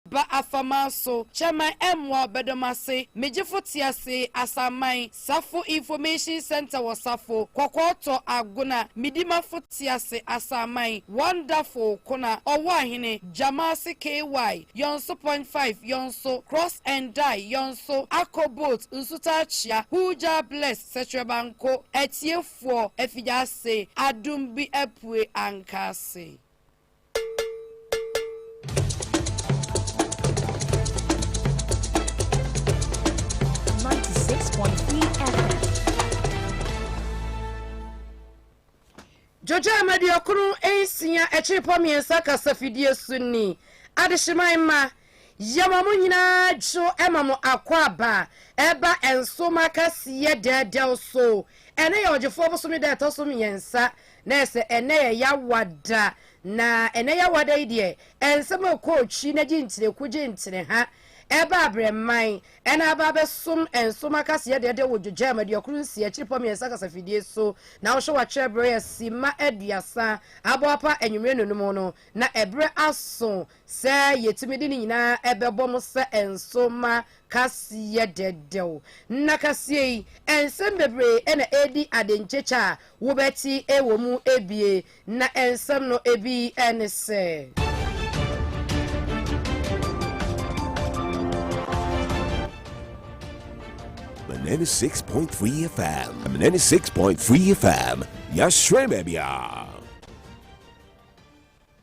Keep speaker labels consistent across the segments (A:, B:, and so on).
A: Ba afaman so, Chairman Ɛmmoa ɔbɛdɔm ase, Me gyefo te ase, Asanman, Safo Information Centre wɔ Safo, Kɔkɔɔtɔ, Agona, Me dimafo te ase, Asanman, Wonderful, Kona, Ɔwɔ Ahene, Gyamaase KY, Yɔnso Point Five, Yɔnso, Cross and Die, Yɔnso, Akɔ Boat, Nsutaa Kyea, Huujaa Bless, Sɛkyerɛbanko, Atiefoɔ, Afigya ase, Adum bi apue Ankaase. Dwodwoama Duokron Nsia Akyirepɔ Mmiɛnsa Kasafidie So Nni Adehyeman Mma Yɛma mo nyinaa dwo ma mo akwaaba a ɛba nsom akɛseɛ dɛɛdɛw so. Ɛnnɛ yɛ Ɔgyefoɔ bosome da a ɛtɔ so mmiɛnsa, na ɛsɛ ɛnnɛ yɛ Yawada. Na ɛnnɛ Yawada yi deɛ, nsɛm a ɛkɔɔ twi na gye ntini ku gye ntini ha ɛba abrɛman na aba abɛsom nsom akɛseɛ dɛɛdɛw wɔ Dwogyaam aduokron nsia akyirepɔ mmiɛnsa kasafidie so. Na wohwɛ wɔatwerɛ berɛ yɛ simma aduasa abɔ apa anwummerɛ nnonum no, na ɛberɛ aso Sɛ yɛtumi de ne nyinaa bɛbɔ mo sɛ nso ma kaseɛ dɛdɛw. Na kaseɛ yi, nsɛm bebree na ɛredi adenkyekyɛ a wobɛte wɔ mu bie. Na nsɛm no bi ne sɛ.
B: The 96.3 FM. 96.3 FM. Yashwemebia.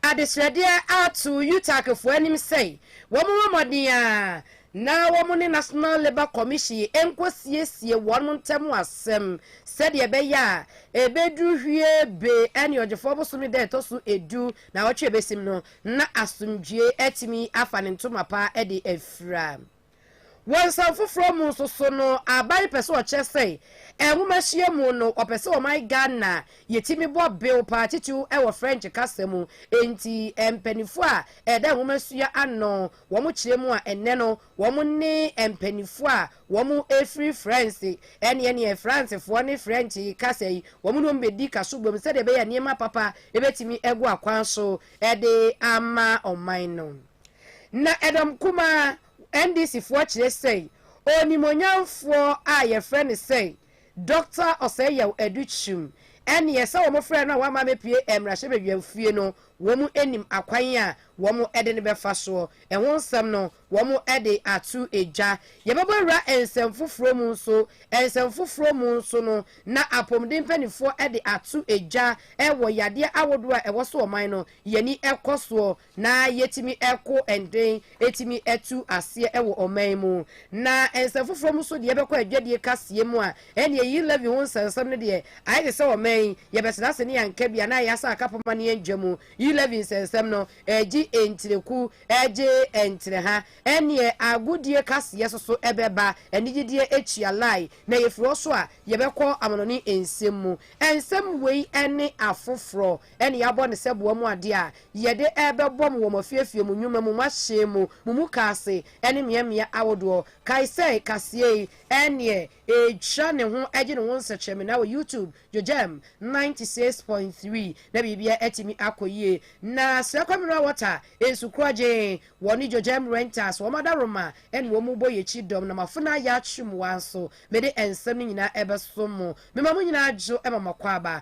A: Adesrɛdeɛ ato UTACfoɔ anim sɛ wɔmmɔ mmɔden ara na wɔn ne National Labour Commission nkɔsiesie wɔn ntam asɛm sɛdeɛ ɛbɛyɛ a ɛbɛduru Hwee-Be ne Ɔgyefoɔ bosome da a ɛtɔ so edu naawɔtwe a ɛbɛsim no na asomdwoeɛ atumi afa ne ntoma pa de afira. Wɔ nsɛm foforɔ mu nso so no, aba yi pɛ sɛ ɔkyerɛ sɛ nwomasua mu no, ɔpɛ sɛ ɔman Ghana yɛtumi bɔ bew paa titiriw wɔ French kasa mu. Enti mpaninfoɔ a ɛda nwomasua ano, wɔn kyerɛ mu a ɛnnɛ no wɔn ne mpaninfoɔ a wɔn firi France ɛne ɛneɛ Francefoɔ ne French kasa yi wɔn ne wɔn bɛdi kaso bom sɛdeɛ ɛbɛyɛ a nneɛma papa bɛtumi agu akwan so de ama ɔman no. Na Edom Kumaa, NDC foɔ kyerɛ sɛi, Onimuonyamfoɔ a yɛfrɛ no sɛi, Doctor Osei-Yaw Adu Kyum, ɛneɛ sɛ wɔn frɛɛ no a wamma amɛpue mmarahyɛbadwam fie no, wɔn nim akwan a wɔn de no bɛfa soɔ. Ɛho nsɛm no, wɔn de ato dwa. Yɛbɛbɔ awura nsɛm foforɔ mu nso, nsɛm foforɔ mu nso no, na apomuden mpaninfoɔ de ato dwa wɔ yadeɛ ahodoɔ a ɛwɔ so ɔman no, yɛni kɔ soɔ na yɛtumi ko ɛnden tumi tu aseɛ wɔ ɔman mu, na nsɛm foforɔ mu nso deɛ yɛbɛkɔ adwadie kaseɛ mu a, ɛnneɛ yi levy ho nsɛnsɛm no deɛ ayɛ te sɛ ɔman yi yɛbɛtena ase ne yɛanka bi anaa yɛasa akapoma ne yɛndwa mu, yi levy nsɛnsɛm no gye ntireku gye ntireha, ɛnneɛ agodie kaseɛ nso so bɛba, anigyedeɛ atua lie, na yɛfiri hɔ so a yɛbɛkɔ amanɔne nsɛm mu. Nsɛm wei ne afoforɔ. Ɛne yɛabɔ no sɛ boa mu adeɛ a yɛde rebɛbɔ mo wɔ mo afiefie, mo nnwuma mu, mo ahyɛn mu, mo mukaase ne mmeammea ahodoɔ. Kae sɛ kaseɛ yi ɛneɛ ɛretwa ne ho gye ne ho nsɛkyerɛmenaa wɔ YouTube, JoJam ninety six point three na biribiara atumi akɔ yie. Na Srɛkɔ Mineral Water, Nsukorɔ Gyeen, wɔne JoJam Rentals, wɔn adaworoma ɛne wɔn bɔ yɛn akyi dɔm. Na mo afenaa Yatrem Waa nso, mede nsɛm no nyinaa ɛbɛso mo. Mema mo nyinaa adwo ma mo akwaaba.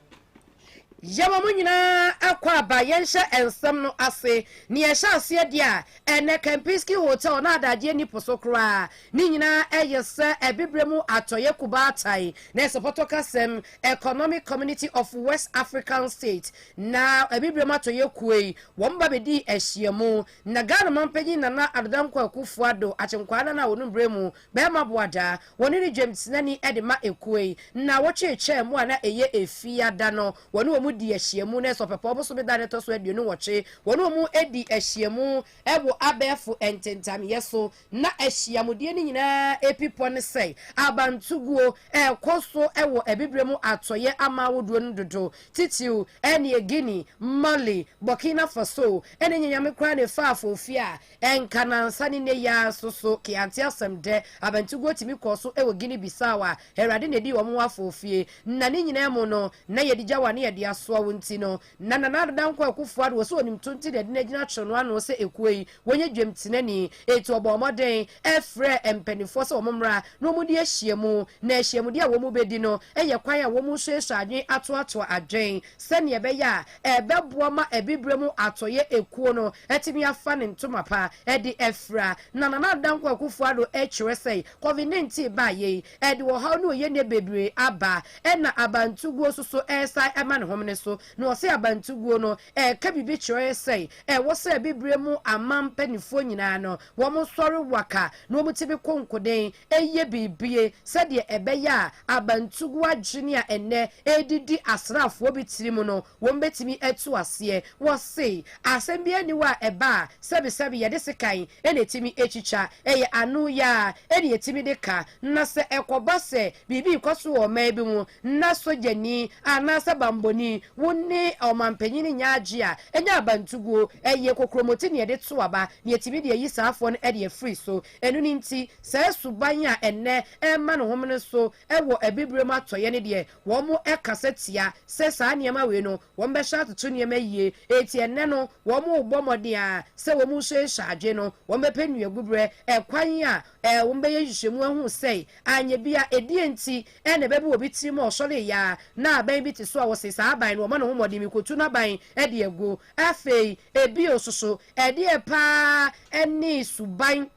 A: Yɛma mo nyinaa akwaaba yɛnhyɛ nsɛm no ase nea ɛhyɛ aseɛ deɛ a, ɛnnɛ Kempinski Hotel na adagyeɛ nni po so koraa, ne nyinaa ɛyɛ sɛ Abibire mu Atɔeɛ Kubaatae na ɛsɛ pɔtɔ kasam Economic Community of West African States na Abibire mu Atɔeɛ Kuo yi wɔn ba bɛdii ahyiamu na Ghana Manpanyin Nana Addo Dankwa Akufo-Addo Akyenkwaa Nana a ɔnum berɛ mu bɛrima boadaa Wɔne no dwamtenani de ma ekuo yi. Nnawɔtwe retwaa mu a na ɛyɛ Efiada no, wɔne wɔn di ahyiamu. Nanso Ɔpɛpɔw bosome da a na ɛtɔ so aduonu nwɔtwe, wɔne wɔn di ahyiamu wɔ abɛɛfo ntentamyɛ so. Ná ahyiamudeɛ no nyinaa pipɔ ne sɛ abantuguo. Ɛrekɔ so wɔ Abibirem Atɔeɛ aman ahodoɔ no dodo, titiriw ɛnneɛ Guinea, Mali, Burkina Faso, ɛne nyanyame koraa Nefafo fie a Ɛnka nnansa ne nnɛ yi ara nso so Keaanti asɛm dɛ, abɛnteguo tumi kɔɔ so wɔ Guinea Bissau a Awurade na ɛdii wɔn ho afɔofie. Na ne nyinaa mu no, na yɛde gya wa ne yɛde asoa wo nti no, na Nana Addo Dankwa Akuffo Addo wɔ sɛ ɔnim to nti na ɛde no agyina twerɛ no ano sɛ ekuo yi wɔnyɛ dwam tenani. Enti ɔbɔɔ mmɔden frɛɛ mpaninfoɔ sɛ wɔn mmra na wɔn di ahyiamu. Na ahyiamudeɛ a wɔn bɛdi no yɛ kwan a wɔn resuasua adwene atoatoa adwene. sɛnea ɛbɛyɛ a ɛbɛboa ma Abibirem Atɔeɛ Ekuo no atumi afa ne ntoma pa de afira. Na Nana Dankwa Akufo-Addo kyerɛ sɛ Covid 19 baeɛ yi, ɛde ɔhaw ne ohianie bebree aba, ɛna abantuguo nso so resan ma ne homene so. Na ɔse abantuguo no ɛka biribi kyerɛ sɛ ɛwɔ sɛ Abibirem aman mpaninfoɔ nyinaa no wɔsɔre waka na wɔte bi konkoden, yɛ biribi sɛdeɛ ɛbɛyɛ a abantugu adwene a ɛnnɛ ɛredidi asraafoɔ bi tirim no, wɔbɛtumi atu aseɛ. Wɔse, asɛm biara nni hɔ a ɛba a sɛbesɛbe yɛde sekan na ɛtumi twitwa. Ɛyɛ ano yɛ ara na yɛtumi de ka. Na sɛ ɛkɔba sɛ biribi rekɔ so wɔ ɔman bi mu na sogyani anaasɛ bammɔni, wo ne ɔmanpanin nnya agye a, ɛnyɛ abantuguo, ɛyɛ kokuromoti na yɛde to aba na yɛtumi de ayi saafoɔ no de afiri so. Ɛno no nti, saa suban a ɛnnɛ ɛrema no homene so wɔ Abibirem Atɔeɛ no deɛ, wɔkasa tia sɛ saa nneɛma wei no wɔbɛhyɛ atoto nneɛma yie. Enti ɛnnɛ no wɔrebɔ mmɔden ara sɛ wɔrehyɛnhyɛ adwene no, wɔbɛpɛ nnuaguberɛ ɛkwan a wɔbɛyɛ nhwehwɛmu ahu sɛe anyɛ bi a, ɛdeɛn nti na ɛbɛba obi tirim a ɔsɔreeɛ ara na aban bi te so a wɔse saa aban no wɔma no ho mmɔden, merekɔtu n'aban de agu Afei bio nso so, ɛdeɛn paa ne suban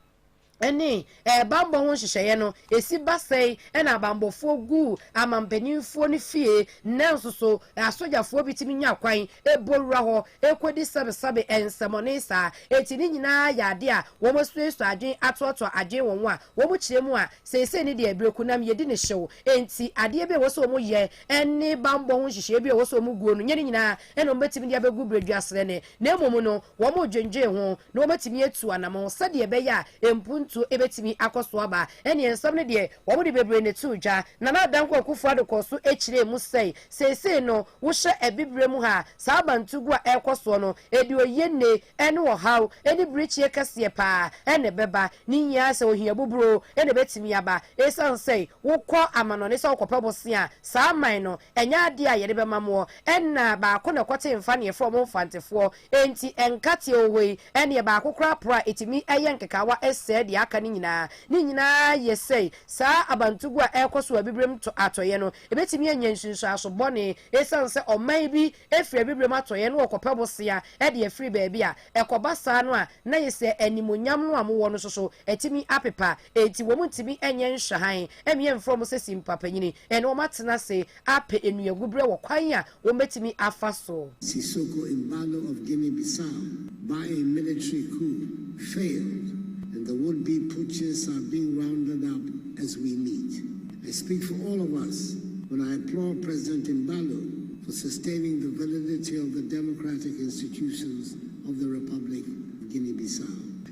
A: ne bammɔ ho nhyehyɛeɛ no? Ɛsi ba sɛn na abammɔfoɔ gu amanpaninfoɔ no fie, nanso so asogyafoɔ bi tumi nya kwan bɔ wura hɔ kɔdi sabesabe nsɛmɔne saa? Enti ne nyinaa yɛ adeɛ a wɔasuasua adwene atoatoa adwene wɔn a wɔkyerɛ mu a seesei ne deɛ berɛkunam yɛdi no hyew nti adeɛ bi a ɛwɔ sɛ wɔyɛ ne bammɔ ho nhyehyɛeɛ bi a ɛwɔ sɛ wɔguo no nyɛ ne nyinaa ɛnna wɔbɛtumi de abɛgu berɛduasrɛ no, na mmom no, wɔredwendwen ho, na wɔatumi atu anammɔn sɛdeɛ ɛbɛyɛ a mpuntuo bɛtumi akɔ so aba. Ɛnneɛ nsɛm no deɛ, wɔde bebree na ɛtoo dwa. Nana Adankwa Akufo-Addo kɔɔ so kyerɛɛ mu sɛe, Seesei no, wohyɛ Abibirem mu ha a, saa abantugu a ɛrekɔ soɔ no, ɛde oyienne ne ɔhaw ne birikyeɛ kɛseɛ pa ara na ɛbɛba. Ne nyinaa ara sɛ ohia buburoo na ɛbɛtumi aba. Ɛsiane sɛ wokɔ amanɔne sɛ wokɔpɛ bosea a, saa man no, ɛnyɛ adeɛ a yɛde bɛma moɔ. Ɛnna baako na ɛkɔtee mfa na yɛfrɛ wɔn mfantefoɔ. Enti nkateɛ wɔ hɔ yi, ɛnneɛ baako koraa poro a ɛtumi yɛ nkekaawa sɛe deɛ aka no nyinaa. Ne nyinaa yɛ sɛi, saa abantuguo a ɛrekɔ so wɔ abibirem atɔeɛ no, ɛbɛtumi anya nsunsuanso bɔne ɛsiane sɛ ɔman bi firi abibirem atɔeɛ na wɔkɔpɛ bosea de afiri baabi a. Ɛkɔba saa no a, na ayɛ sɛ animuonyam no a mowɔ no nso so atumi apepa. Enti wɔntumi nyɛ nhwɛhan mmea mfrɛ wɔn sɛ simpa panyin na wɔatena ase apɛ nnuagubrɛ wɔ kwan a wɔbɛtumi afa so. Sissoko Embaló
C: of Guinea-Bissau by a military coup failed and the would be putchists are being rounded up as we meet. I speak for all of us when I applaud President Embaló for sustaining the validity of the democratic institutions of the Republic of Guinea-Bissau.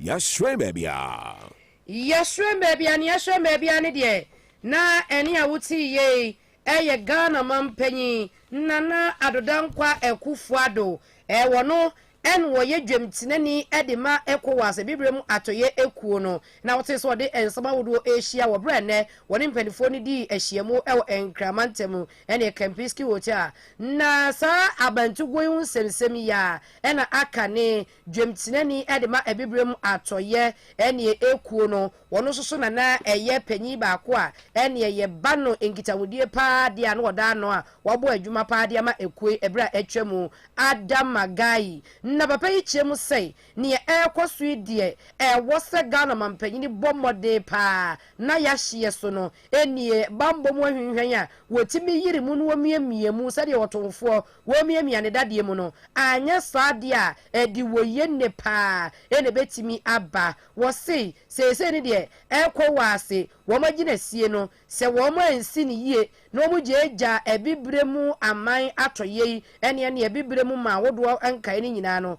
B: Yɛahyerɛn baabi a. Yɛahyerɛn baabi a, nea
A: yɛahyerɛn baabi a ne deɛ, na ɛne a wotee yei yɛ Ghana mampanyin Nana Addo Dankwa Akuffo Addo. Wɔ no na wɔyɛ dwamtenani de ma Ecowas abibire mu atɔeɛ akuo no, na wotee sɛ wɔde nsɛm ahodoɔ rehyia wɔ berɛ a nnɛ wɔne mpanimfoɔ no dii ahyiamu wɔ Nkrama ntam ne Kempinski Hotel. Na saa abantuguo yi ho nsɛmnsɛm yi ara na aka ne Dwamtenani de ma Abibirem Atɔeɛ ɛneɛ ekuo no, wɔn nso so na na ɛyɛ panyin baako a ɛneɛ yɛ ba no nkitahodie paa deɛ a na ɔda ano a wabɔ adwuma paa de ama ekuo yi ɛberɛ a atwa mu. Adam Magayi na papa yi kyerɛ mu sɛ neɛ ɛrekɔ so yi deɛ ɛwɔ sɛ Ghana manpanyin bɔ mmɔden paa na yahyeɛ so no ɛnie bammɔ mu ahwinhwɛn a wɔtumi yiri mu na wɔmiamia mu sɛdeɛ ɔtomfoɔ Womiamia ne dadeɛ mu no, anyɛ saa deɛ a ɛde wɔ yɛ nnɛ paa na ɛbɛtumi aba. Wɔse seesei no deɛ ɛkɔ wɔ ase, wɔn agye no asie no, sɛ wɔn ansi no yie na wɔn gyaagyaa Abibire mu aman atɔyɛ yi ne ɛne Abibire mu man ahodoɔ nkaeɛ no nyinaa no,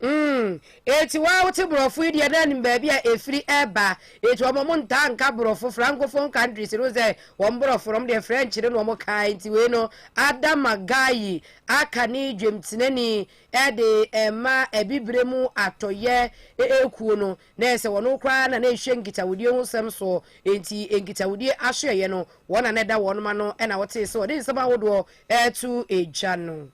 D: Mm,
A: enti wo a wote Borɔfo yi deɛ na nim baabi a ɛfiri ba. Enti wɔn wɔn ntaa nka Borɔfo, Francophone countries no sɛ wɔn Borɔfo no, wɔn deɛ French no na wɔn ka. Enti wei no, Adama Gaye aka ne dwamtenani de rema Abibire mu Atɔeɛ kuo no. Na ɛyɛ sɛ wɔn koraa na na ɛhwɛ nkitawodie ho nsɛm soɔ. Enti nkitawodie ahwɛeɛ no, wɔn na na ɛda wɔn ano na wotee sɛ wɔde nsɛm ahodoɔ reto gya no.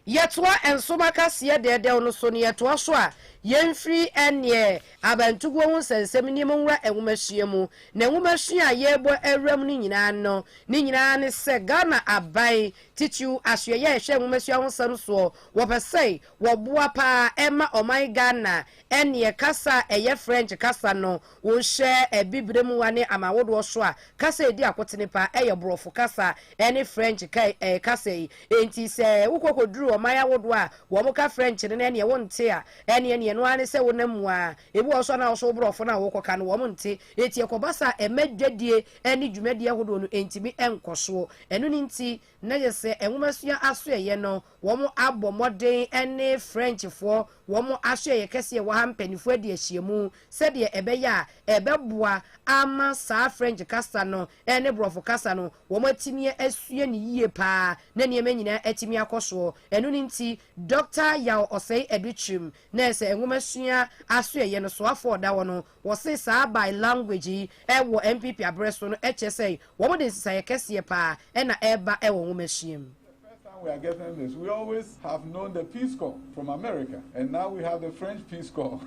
A: Yɛtoa nso ma kaseɛ dɛɛdɛw no so na yɛtoa so a yɛmfiri ɛnneɛ abantuguo ho nsɛnsɛm nneɛma nwura nwomasua mu. Na nwomasua a yɛrebɔ awuram no nyinaa no, ne nyinaa ne sɛ Ghana aban titiriw asoɛeɛ a ɛhwɛ nwomasua ho nsɛm soɔ, wɔpɛ sɛ wɔboa pa ara ma ɔman Ghana ɛnneɛ kasa a ɛyɛ French kasa no Wonhyɛ Abibirem wa ne amanwodoɔ so a kasa a ɛdi akotene pa ara yɛ Borɔfo kasa ne French ka kasa yi. Enti sɛ wokɔ kɔduru ɔman awodoɔ a wɔka French no na ɛneɛ wonte a, ɛneɛ neɛ ɛno ara ne sɛ wonam mu ara. Ebi wɔ hɔ nso a na wo nso wo Borɔfo no a wokɔka no wɔnte. Eti ɛkɔba saa a ɛma dwadie ne dwumadie ahodoɔ no ntumi nkɔ soɔ. Ɛno no nti na yɛsɛ nwomasua asoɛeɛ no Wɔn abɔ mmɔden ne Frenchfoɔ wɔn asoɛeɛ kɛseɛ a ɛwɔ ha mpaninfoɔ adi ahyiamu sɛdeɛ ɛbɛyɛ a ɛbɛboa ama saa French kasa no ne Borɔfo kasa no wɔn atumi asua no yie pa ara na nneɛma nyinaa atumi akɔ soɔ. Ɛno no nti Dɔkta Yaw Osei Adukyrim na ɛsɛ nwomasua asoɛeɛ no soafoɔ a ɔda hɔ no Wɔse saa by language yi wɔ NPP aberɛ so no kyerɛ sɛ wɔn de nsesaeɛ kɛseɛ paa na ɛreba wɔ nwomasua mu. The first time we are
E: getting this we always have known the peace corps from America and now we have the French peace corps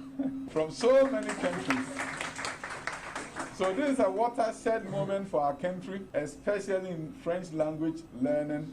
E: from so many countries so this is a watershed moment for our country especially in French language learning.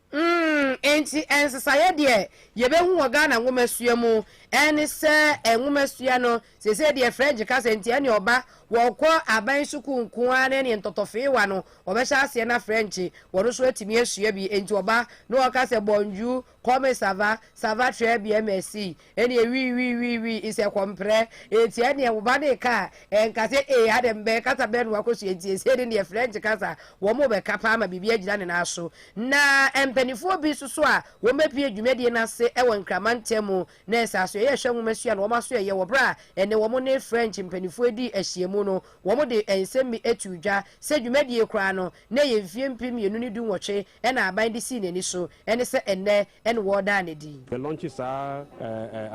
E: Mm,
A: enti nsesaeɛ deɛ yɛbɛhu wɔ Ghana nwomasua mu ɛne sɛ nwomasua no seesei deɛ French kasa nti ɛne ɔba wɔkɔ aban sukuu nko ara na ɛne ntɔtɔfeewa no wɔbɛhyɛ aseɛ na French wɔn nso atumi asua bi enti ɔba na ɔka sɛ bonjour, comme ça va, ça va très bien merci, Ɛneɛ wii wii wii wii is a kɔmprɛ Enti ɛneɛ wo ba no reka a ɛnka sɛ ee adɛn bɛn kasa bɛn na wakɔsua Enti ɛsei no deɛ French kasa wɔn rebɛka paa ma biribi agyina ne nan so Na mpaninfoɔ bi nso so a wɔn bɛpue dwumadie no ase wɔ Nkraman ntamu na ɛsɛ aso ɛyɛ hwɛ nwoma sua na wɔn aso ɛyɛ wɔ berɛ a ɛnɛ wɔn ne French mpaninfoɔ dii ahyiamu no wɔn de nsɛm bi too dwa sɛ dwumadie koraa no na ɛyɛ mfeɛ mpem mmienu ne du-nwɔtwe na aban de sii n'ani so, ɛne sɛ ɛnnɛ na wɔredaa no adi. Yɛ launch saa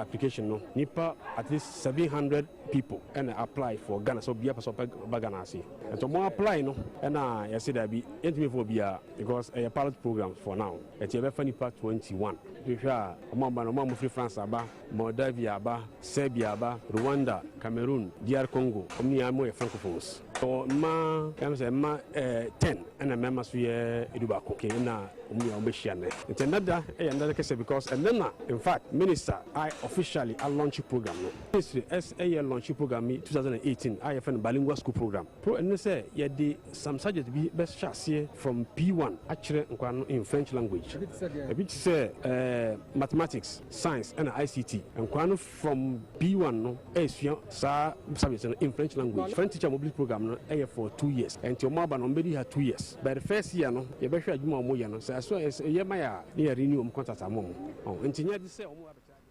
F: application no nipa at least seven hundred people ɛna apply for Ghana sɛ obiara pɛ sɛ ɔpɛ ba Ghana ase nti ɔmo apply no ɛna yɛse daabi yɛntumi mfa obiara because ɛyɛ pilot program for now ɛti yɛbɛfa nipa twenty one hwehwɛ a ɔmo aba no ɔmo a mo firi France aba Moldavia aba Serbia aba Rwanda Cameroon DR Congo ɔmo nyinaa mo yɛ francophones. Ɔwɔ mma ɛm sɛ mma ɛɛ ten ɛna mmarima nso yɛ edu baako kee ɛna wɔn nyinaa wɔbɛhyia nnɛ nti ɛnɛ da ɛyɛ ɛnɛ da kɛseɛ because ɛnɛ na in fact minister I officially a launch program no ministry ɛs ɛyɛ launch program yi two thousand and eighteen a yɛfɛ no bilingual school program pro ɛne sɛ yɛde some subject bi bɛhyɛ aseɛ from P one akyerɛ nkwadaa no in French language ebi te sɛ ɛɛ mathematics science ɛna ICT nkwadaa no. From B1 no ɛresua saa service no in French language. French teacher mobility program no ɛyɛ for two years. Ɛnti ɔmo aba no ɔmo bɛdi ha two years. But the first year no yɛbɛhwɛ adwuma a ɔmo yɛ no. Sɛ ɛso ɛyɛ ma yɛ a na yɛ renew ɔmo contract ama ɔmo. Ɔho nti nyɛ ade sɛ ɔmo ba bɛkyerɛ adeɛ.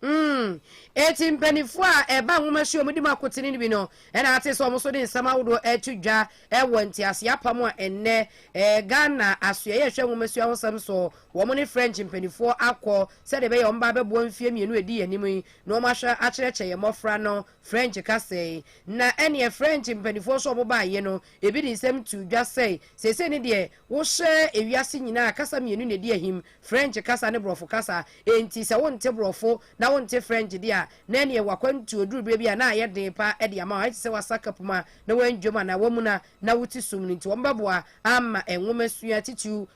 F: Mm,
A: eti mpaninfoɔ a ɛba nwomasua ɔmo di mu akotene no bi no ɛna ate sɛ ɔmo nso de nsɛm ahodoɔ ɛreto dwa ɛwɔ nteaseɛ apam a ɛnnɛ ɛɛ Ghana asoɛeɛ ɛhwɛ nwomasua ho sɛm soɔ Wɔn ne French mpanimfoɔ akɔ sɛdeɛ ɛbɛyɛ a wɔbɛba abɛboa mfeɛ mmienu a ɛdi yɛn anim yi na wɔahwɛ akyerɛkyerɛ yɛn mmɔfra no French kasa yi. Na ɛnneɛ French mpanimfoɔ nso a wɔbaeɛ no, ebi de nsɛm too dwa sɛ, Seesei no deɛ, wohyɛ ewiase nyinaa a, kasa mmienu na ɛdi ahim, French kasa ne Borɔfo kasa. Enti sɛ wonte Borɔfo na wonte French deɛ a, na ɛnneɛ w'akwantuo duru berɛ bi a na ayɛ den pa ara de ama wo. Ayɛ te sɛ woasa kapuma na woanwam anaa woamuna na wote sum no. Enti wɔbɛboa ama nwomasua titiriw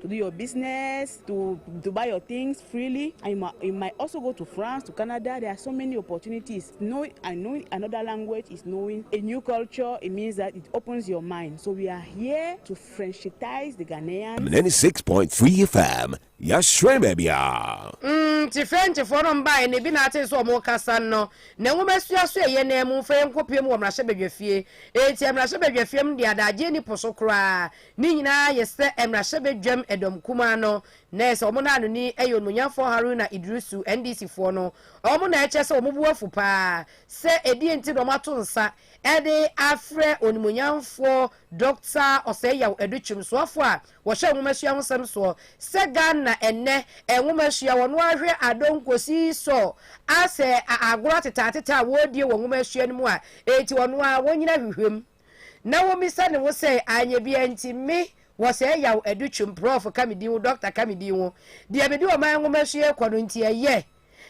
G: to do your business, to, to buy your things freely. And you might, you might also go to France, to Canada. There are so many opportunities. Knowing, and knowing another language is knowing a new culture. It means that it opens your mind. So we are here to Frenchitize the Ghanaians. 96.3
B: FM, Yashre Mabia. Mm, ti French for no
A: mbae ne bi na ate so omo kasa no. Na nwoma sua so eye na mu fa enko piem wo mmrahyɛ badwafie. Enti mmrahyɛ badwafie m de adagye ni poso koraa. Ne nyinaa yɛ sɛ mmarahyɛbadwam dɔm kumaa no, na ɛyɛ sɛ wɔn naanoni yɛ Onimonyamfoɔ Haruna Iddrisu, NDC foɔ no, wɔn na ɛkyerɛ sɛ wɔn bo afu pa ara sɛ ɛdeɛn nti na wɔato nsa de afrɛ Onimonyamfoɔ Dɔkta Osei-Yaw Adu Kyeremsoafoɔ a wɔhwɛ nwomasua ho nsɛm soɔ sɛ Ghana ɛnnɛ nwomasua wɔn ara hwɛ Adong kɔsi sɔ asɛ a agorɔ atetaatetɛ a wɔredie wɔ nwomasua no mu a enti wɔn ara wɔnyina hwehwɛm. na womisa ne ho sɛɛ anyɛ bia nti me wɔ sɛɛ yaw adu twum prɔf ka me din wo dɔkta ka me din wo deɛ mede ɔman nwoma sua ɛkɔ no nti ɛyɛ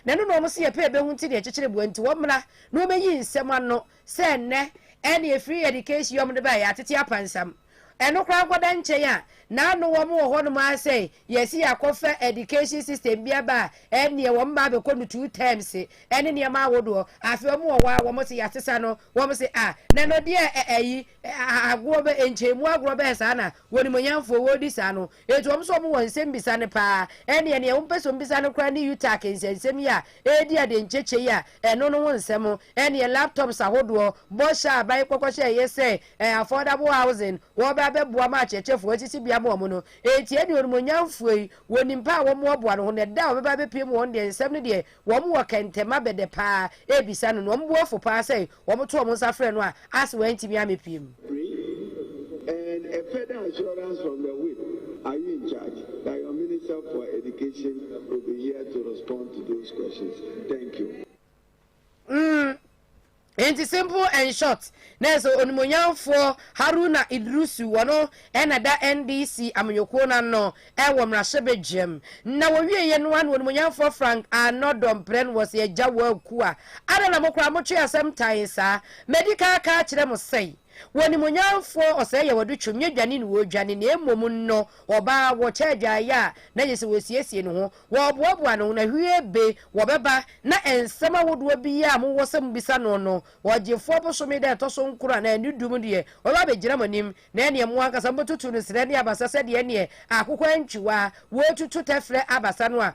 A: na ɛno na wɔn se yɛpɛ ɛbɛhu nti na ɛkyekyere boa nti wɔmmra na wɔmɛyi nsɛm ano sɛ nnɛ ɛne ɛfiri ɛdikes yɔm de baɛ yɛatete apansam ɛno koraa nkɔda nkyɛn a na ano wɔn wɔ hɔnom ara sɛɛ Yɛsi akɔfa education system bi aba a ɛnneɛ wɔn mma abɛkɔ no two terms ɛne nneɛma ahodoɔ afei wɔn wɔ hɔ a wɔn se yɛasesa no wɔn se ah nɛnɔdeɛ ɛ ayi agorɔ bɛ nkyɛnmu agorɔ bɛyɛ saa na wɔnimonyamfoɔ wɔredi saa no enti wɔn so wɔn wɔ nsɛm bisa no paa ɛnneɛ neɛ wɔn pɛ sɛ wɔn bisa no koraa ne UTAC nsɛnsɛm yi a ɛredi adenkyekyɛ yi a ɛno no ho nsɛm ɛnneɛ laptops ahodoɔ bɔhyɛ a aban kɔkɔhyɛeɛ sɛ ɛ affordable housing wɔbɛ abɛboa ma akyerɛkyerɛfoɔ asisi bea ma wɔn no Enti ɛnneɛ onimuonyamfoɔ yi, wɔnim paa a wɔmmoaboa no ho, na da a ɔbɛba abɛpue mu wɔn deɛ nsɛm no deɛ wɔn wɔ kɛntɛma bɛdɛ paa ɛrebisa no, na wɔn bo afu paa sɛ wɔto wɔn nsa frɛ no a ase wantumi ammɛpue mu. Pray
H: and a further assurance from the whip are you in charge that your minister for education will be here to respond to those questions thank you. Mm.
A: Enti simple and short, nanso onimuonyamfoɔ Haruna Iddrisu wɔ no na ɛda NDC amanyɔkuo no ano wɔ mmarahyɛbadwam. Na wɔwieeɛ no ara na onimuonyamfoɔ Frank Arnor Domprɛn was Agya Woakua. Adɛn na mo koraa motwe asɛm tan saa? Madi kan aka akyerɛ mo sɛn? Wo Onimuonyamfoɔ ɔsɛɛ yɛ wɔde twom nyɛ dwane ne wɔredwane na mmom nnɔ ɔbaa wɔkyɛ adwaeɛ a na ɛsɛ sɛ wɔsiesie ne ho wɔreboaboa ne ho na hwie be wɔbɛba na nsɛm ahodoɔ biara a mowɔ sɛ mobisa no no ɔgyefoɔ bosome da ɛtɔ so nkron anaa ɛne du mu deɛ ɔbɛba abɛgyina mo anim na ɛneɛ mo ankasa mobɛtutu no serɛ ne abasa sɛdeɛ ɛneɛ akokɔ antwiwaa wɔretutu tɛferɛ abasa no a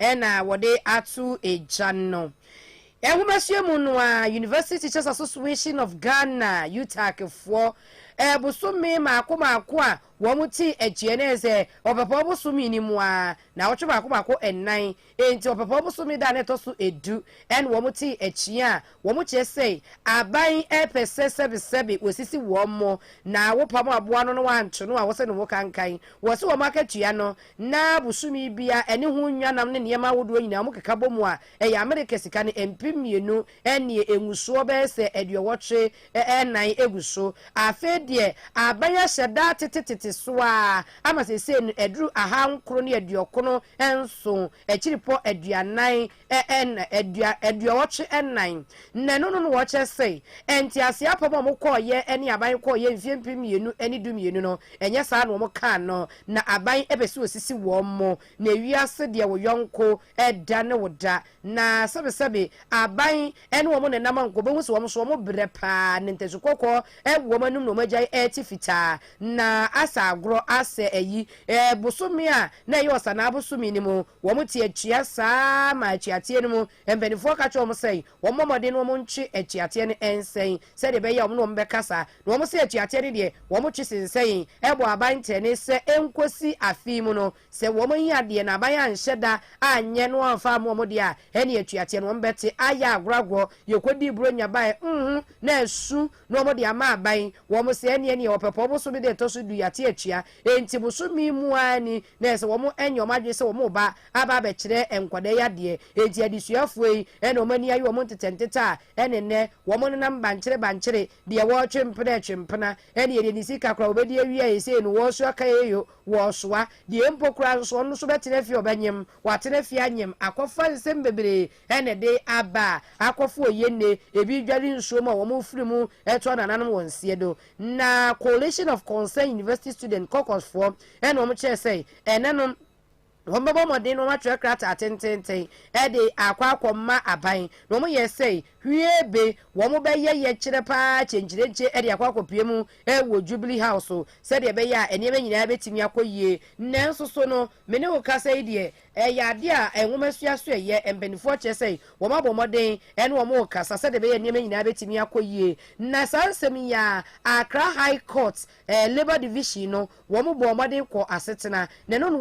A: na wɔde ato gya no. Nhomasua mu no ara, University Teachers Association of Ghana, UTAG, foɔ bosome mmaako mmaako a wɔte agyeɛ no yɛ sɛ ɔpɛpɔw bosome no mu ara, nnawɔtwe mmaako mmaako nnan, enti ɔpɛpɔw bosome da a na ɛtɔ so du na wɔte agyeɛ a Wɔkyerɛ sɛ aban repɛ sɛ sɛbesɛbe wɔsisi wɔn mo na wopam aboa no na wɔanto no a wɔsɛ ne ho kankan. Wɔse wɔn akatua no na bosome biara ɛne ho nnwa nam ne nneɛma ahodoɔ nyinaa wɔkeka bɔ mu a ɛyɛ Amerika sika no mpem mmienu ɛneɛ ɛngusoɔ bɛyɛ sɛ aduɔwɔtwe ɛnan ɛgu so. Afei deɛ aban ahyɛ da atete tete so ara ama seisei no aduru aha nkron ne aduɔkono nson akyiripɔ aduanan Ɛɛ nna adua aduɔwɔtwe nnan na ɛno no na wɔkyɛ sɛ ntease apam a wɔkɔɔyɛ ne aban kɔɔyɛ mfeɛ mpem mmienu ne du mmienu no ɛnyɛ saa na wɔn kaa no na aban pɛ sɛ ɔsisi wɔn mo na ewiase deɛ wo yɔnko da ne wo da na sɛbe sɛbe aban ne wɔn nenam a nka wɔbɛhu sɛ wɔn nso wɔn brɛ paa na ntasu kɔkɔɔ wɔ wɔn anum na wɔn agyae ɛte fitaa na asɛ agorɔ asɛ ayi bosome a na ɛyɛ ɔsanaa bosome no mu Wɔn te atua saa ara ma atuateɛ no mu mpanimfoɔ ka kyerɛ wɔn sɛ wɔmmɔ mmɔden na wɔntwe atuateɛ no nsɛn sɛdeɛ ɛbɛyɛ a wɔne wɔn bɛkasa, na wɔn se atuateɛ no deɛ wɔtwe sensɛn bɔ aban ntɛnee sɛ ɛnkɔsi afe mu no, sɛ wɔanyi adeɛ na aban anhyɛ da anyɛ na wɔamfa ammɔ wɔn deɛ a, ɛnneɛ atuateɛ no wɔn bɛte ayɛ agorɔ agorɔ, yɛkɔdii Buronya baeɛ ho na asu na wɔn de ama aban, wɔn se ɛnneɛ neɛ wɔpɛ pɔw bosome da ɛtɔ so du yɛate atua, enti bosome mu ara ni. na ɛsɛ wɔyɛ wɔn adwene sɛ wɔreba aba abɛkyerɛ nkwadaa yi adeɛ. Enti adesuafoɔ yi na wɔn ani aye wɔn ntetɛntetɛ a ɛne nnɛ wɔnenam bankyere bankyere, deɛ wɔretwe mpena retwe mpena, ɛne ɛdeɛ ne sika koraa wɔbɛdi awie a ɛsei no wɔresu akayeyo, wɔresoa. Deɛ mpo koraa nso ɔno nso bɛtena fie a ɔbɛnyem, watena fie anyem, akɔfa nsɛm bebree na ɛde aba a, akɔfa oye nne, ebi dware nsuo mu a wɔrefiri mu to anananom wɔn seɛ do. Na Coalition of Concerned University Students, Caucus, foɔ na wɔkyerɛɛ sɛ ɛne no wɔbɛbɔ mmɔden na wɔatwerɛ krataa tenteenten de akɔ akɔma aban, na wɔyɛɛ sɛ hwiebe wɔbɛyɛ yɛkyerɛ pa ara kyenkyerenkye de akɔ akɔpue mu wɔ Jubilee House sɛdeɛ ɛbɛyɛ a nneɛma nyinaa bɛtumi akɔ yie. Nanso so no, me ne wo kasa yi deɛ, Ɛyɛ ade a nwomasua so ɛyɛ. Mpanimfoɔ kyerɛ sɛ wɔabɔ mmɔden ne wɔn rekasa sɛdeɛ ɛbɛyɛ a nneɛma nyinaa bɛtumi akɔ yie. Na saa nsɛm yi ara, Accra High Court Labour Division no, wɔn bɔɔ mmɔden kɔɔ asetena. Na ɛno na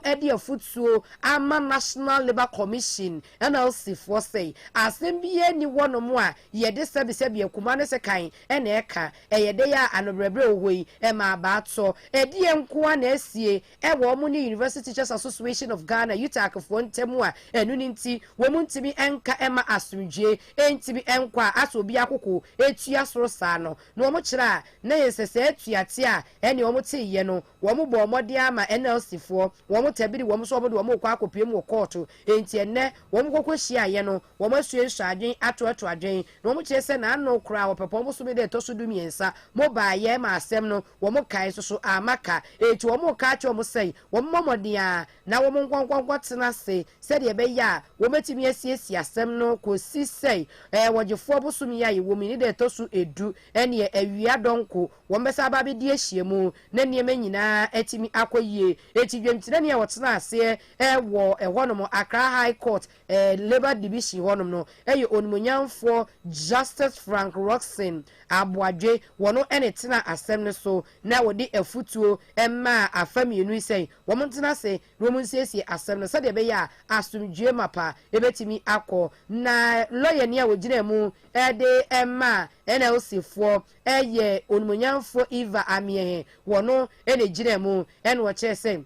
A: wɔde afotuo ama National Labour Commission, NLC, foɔ sɛ, asɛm biara nni hɔ nom a yɛde sɛbesɛbe akuma ne sekan na ɛka. Ɛyɛ dɛn a anoberɛberɛ wɔ hɔ yi, ɛma abaa tɔ. Ɛdeɛn nko ara na asie ɛwɔ wɔn ne University Teachers Association of Ghana, UTAG, foɔ ntam a ɛno no nti wɔn ntumi nka mma asomdwoeɛ ntumi nkɔ a asɛ obi akoko tua soro saa no na wɔn kyerɛ a na yɛ sɛ saa atuateɛ a ɛne wɔn teeɛ no wɔn bɔɔ mmɔden ara ma NLC foɔ wɔn tabiri wɔn so wɔn de wɔn rekɔ akɔpiam wɔ kɔɔto enti ɛnnɛ wɔn kɔkɔ hyiaeɛ no wɔn asuasua adwen atoato adwen na wɔn kyerɛ sɛ na ano koraa wɔpɛ pɔn bosome da ɛtɔ so du mmiɛnsa mo baeɛ ma asɛm no Wɔn kan nso so amma ka, enti wɔreka akyerɛ wɔn sɛ wɔmmɔ mmɔden ara na wɔnkɔnkɔnkɔ tena ase sɛdeɛ ɛbɛyɛ a wɔbɛtumi asiesie asɛm no kɔsi sɛ ɛɛ wɔgyefoɔ bosome a yɛwɔ mu yi ne da a ɛtɔ so edu ɛneɛ awia dɔnko wɔn bɛsan aba abɛdi ahyia mu na nneɛma nyinaa atumi akɔ yie. Enti dwamtirani a ɔtenaa aseɛ ɛwɔ ɛhɔ nom Accra High Court eh, Labour Division hɔnom no yɛ Onimuonyamfoɔ Justice Frank Rockson Aboadwe, wɔno ne tenaa asɛm no so na wɔde afutuo maa afa mmienu yi sɛ wɔn ntena ase na wɔn nsiesie asɛm no sɛdeɛ ɛbɛyɛ a asomdwoeɛ mapa bɛtumi akɔ. Na lɔyani a ɔgyinaa mu de maa NLC foɔ yɛ Onimuonyamfoɔ Eva Amieh, wɔno na ɛgyinaa mu na wɔkyerɛɛ sɛ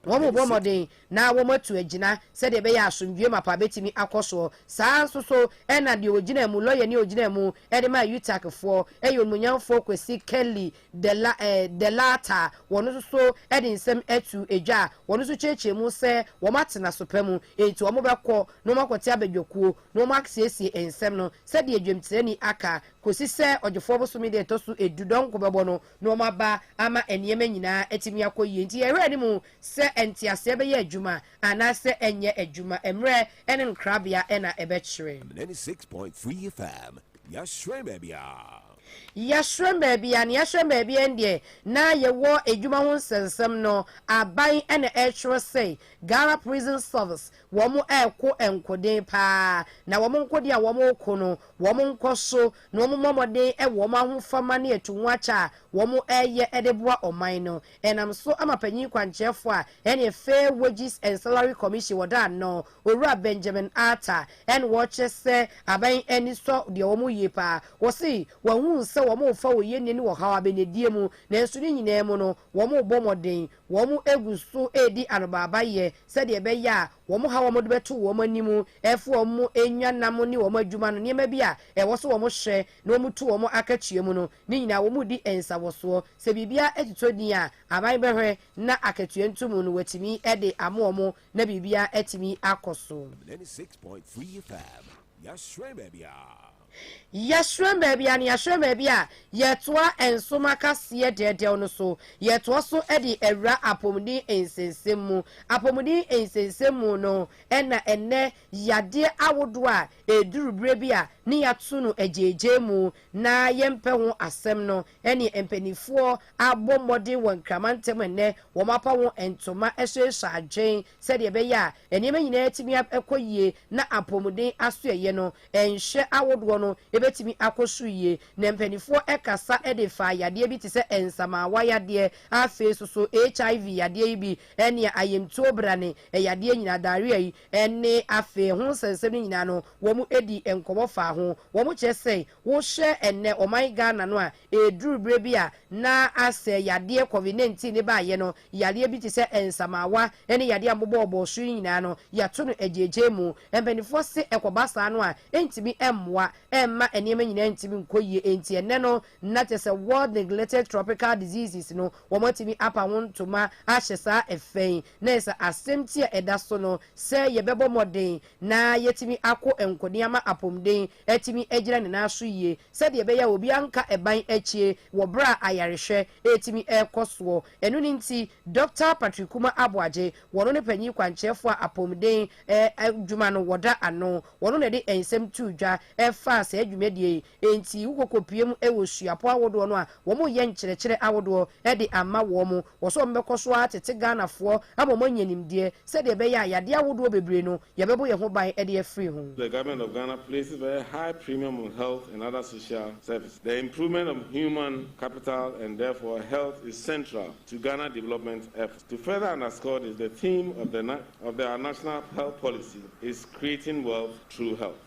A: Wɔbɔ mmɔden na wɔatu agyina sɛdeɛ ɛbɛyɛ a asomdwoeɛ mapa bɛtumi akɔ soɔ. Saa ara nso so na deɛ ɔgyinaa mu, lɔyani a ɔgyinaa mu de maa UTACfoɔ yɛ Onimuonyamfoɔ Kwesi Kelly Delata, wɔn nso so de nsɛm to dwa a wɔn nso kyerɛkyerɛ mu sɛ wɔatena so pa mu, enti wɔbɛkɔ na wɔakɔte abadwakuo na wɔasiesie nsɛm no sɛdeɛ dwamtirani aka kɔsi sɛ Ɔgyefoɔ bosome da a ɛtɔ so du, Dɔnko bɛbɔ no na wɔaba ama nneɛma nyinaa atumi akɔ yie. Enti yɛn werɛ nni mu sɛ nteaseɛ bɛyɛ adwuma anaasɛ ɛrenyɛ adwuma. Mmerɛ ne no krabea na ɛbɛkyerɛ. Am ninety six point three
B: FM yɛahyerɛn baabiara.
A: Yɛahyerɛn baabiara na yɛahyerɛn baabiara no deɛ na yɛwɔ adwuma ho nsɛnsɛm no aban na ɛretwerɛ sɛ Ghana Prison Service wɔn ɛreko nkoden paa na wɔn nkoden a wɔn reko no wɔn nkɔso na wɔmmɔ mmɔden wɔ wɔn ahofama ne atu ho akyɛ a wɔreyɛ de boa ɔman no. Ɛnam so ama panyin kwankyerɛfo a ɛne Fair Wages and Salary Commission wɔ Daa no, Owura Benjamin Arthur, ɛne wɔkyerɛ sɛ aban ani sɔ deɛ wɔyɛ yi paa. Wɔse wɔahunu sɛ wɔrefa oyɛnnie ne ɔhaw abɛnadie mu, nanso ne nyinaa mu no wɔrebɔ mmɔden, wɔgu so redi anobaabayɛ sɛdeɛ ɛbɛyɛ a wɔn haw a wɔde bɛto wɔn anim, ɛfo a wɔnya nam ne wɔn adwuma no, nneɛma bi a ɛwɔ sɛ wɔhwɛ na wɔtu wɔn akatua mu no, ne nyinaa wɔredi nsawɔsoɔ. Sɛ biribiara totɔ din a, aban bɛhwɛ na akatua nto mu no, wɔatumi de ama wɔn na biribiara atumi akɔ so. 96.3
B: FM, Yɛahyerɛn baabiara.
A: Yɛhyerɛn baabi a na yɛahyerɛn baabi a yɛtoa nsom akaseɛ dɛɛdɛw no so. Yɛtoa so de awura apɔmuden nsɛnsɛm mu. Apɔmuden nsɛnsɛm mu no na ɛnnɛ yadeɛ ahodoɔ a ɛduru berɛ bi a na yɛato no agyaagyaa mu na yɛmpɛ ho asɛm no ne mpanimfoɔ abɔ mmɔden wɔ nkrama ntam ɛnnɛ wɔapa ho ntoma hyɛhyɛ adwene sɛdeɛ ɛbɛyɛ a nneɛma nyinaa atumi akɔ yie na apɔmuden asoɛeɛ no Nhwɛ ahodoɔ no bɛtumi akɔ so yie. Na mpaninfoɔ kasa de faa yadeɛ bi te sɛ nsamaawa yadeɛ, afei nso so HIV yadeɛ yi bi nea ayamtuo brane yadeɛ nyinaa, diarrhea yi ne afei ɛho nsɛnsɛm no nyinaa no wɔn dii nkɔmmɔ faa ho. Wɔn kyerɛ sɛ wohwɛ ɛnnɛ ɔman Ghana no a Ɛreduru berɛ bi a na asɛ yadeɛ Covid 19 no baeɛ no, yareɛ bi te sɛ nsamaawa ne yadeɛ a mobɔ ɔbɔɔ so yi nyinaa no, yɛato no agyaagyaa mu. Mpanimfoɔ se ɛkɔba saa no a, ɛntumi mmoa, ɛmma nneɛma nyinaa ntumi nkɔ yie. Enti ɛnnɛ no, na kyerɛ sɛ World Neglected Tropical Diseases no, wɔatumi apa ho ntoma ahyɛ saa ɛfa yi. Na ɛyɛ sɛ asɛmti a ɛda so no sɛ yɛbɛbɔ mmɔden na yɛatumi akɔ nkoni ama apɔmuden atumi agyina ne nan so yie sɛdeɛ ɛbɛyɛ a obiara nka ɛban akyie wɔ berɛ a ayarehwɛ retumi rekɔ soɔ. Ɛno no nti, Dɔkta Patrick Kumah Aboagye, wɔno ne panyin kwankyerɛfoɔ a apɔmuden adwuma no wɔda ano, wɔno na ɛde nsɛm too dwa faa saa dwumadie yi nti wokɔkɔpue mu wɔ suapɔn ahodoɔ no a wɔreyɛ nkyerɛkyerɛ ahodoɔ de ama wɔn Wɔ sɛ wɔbɛkɔ so ara tete Ghanafoɔ ama wɔanya nimdeɛ sɛdeɛ ɛbɛyɛ a yadeɛ ahodoɔ bebree no yɛbɛbɔ yɛn ho ban de afiri ho. The Government of Ghana
I: places very high premium on health and other social services. The improvement of human capital and therefore health is central to Ghana development efforts. To further underscore this, the theme of the of our national health policy is Creating Wealth Through Health.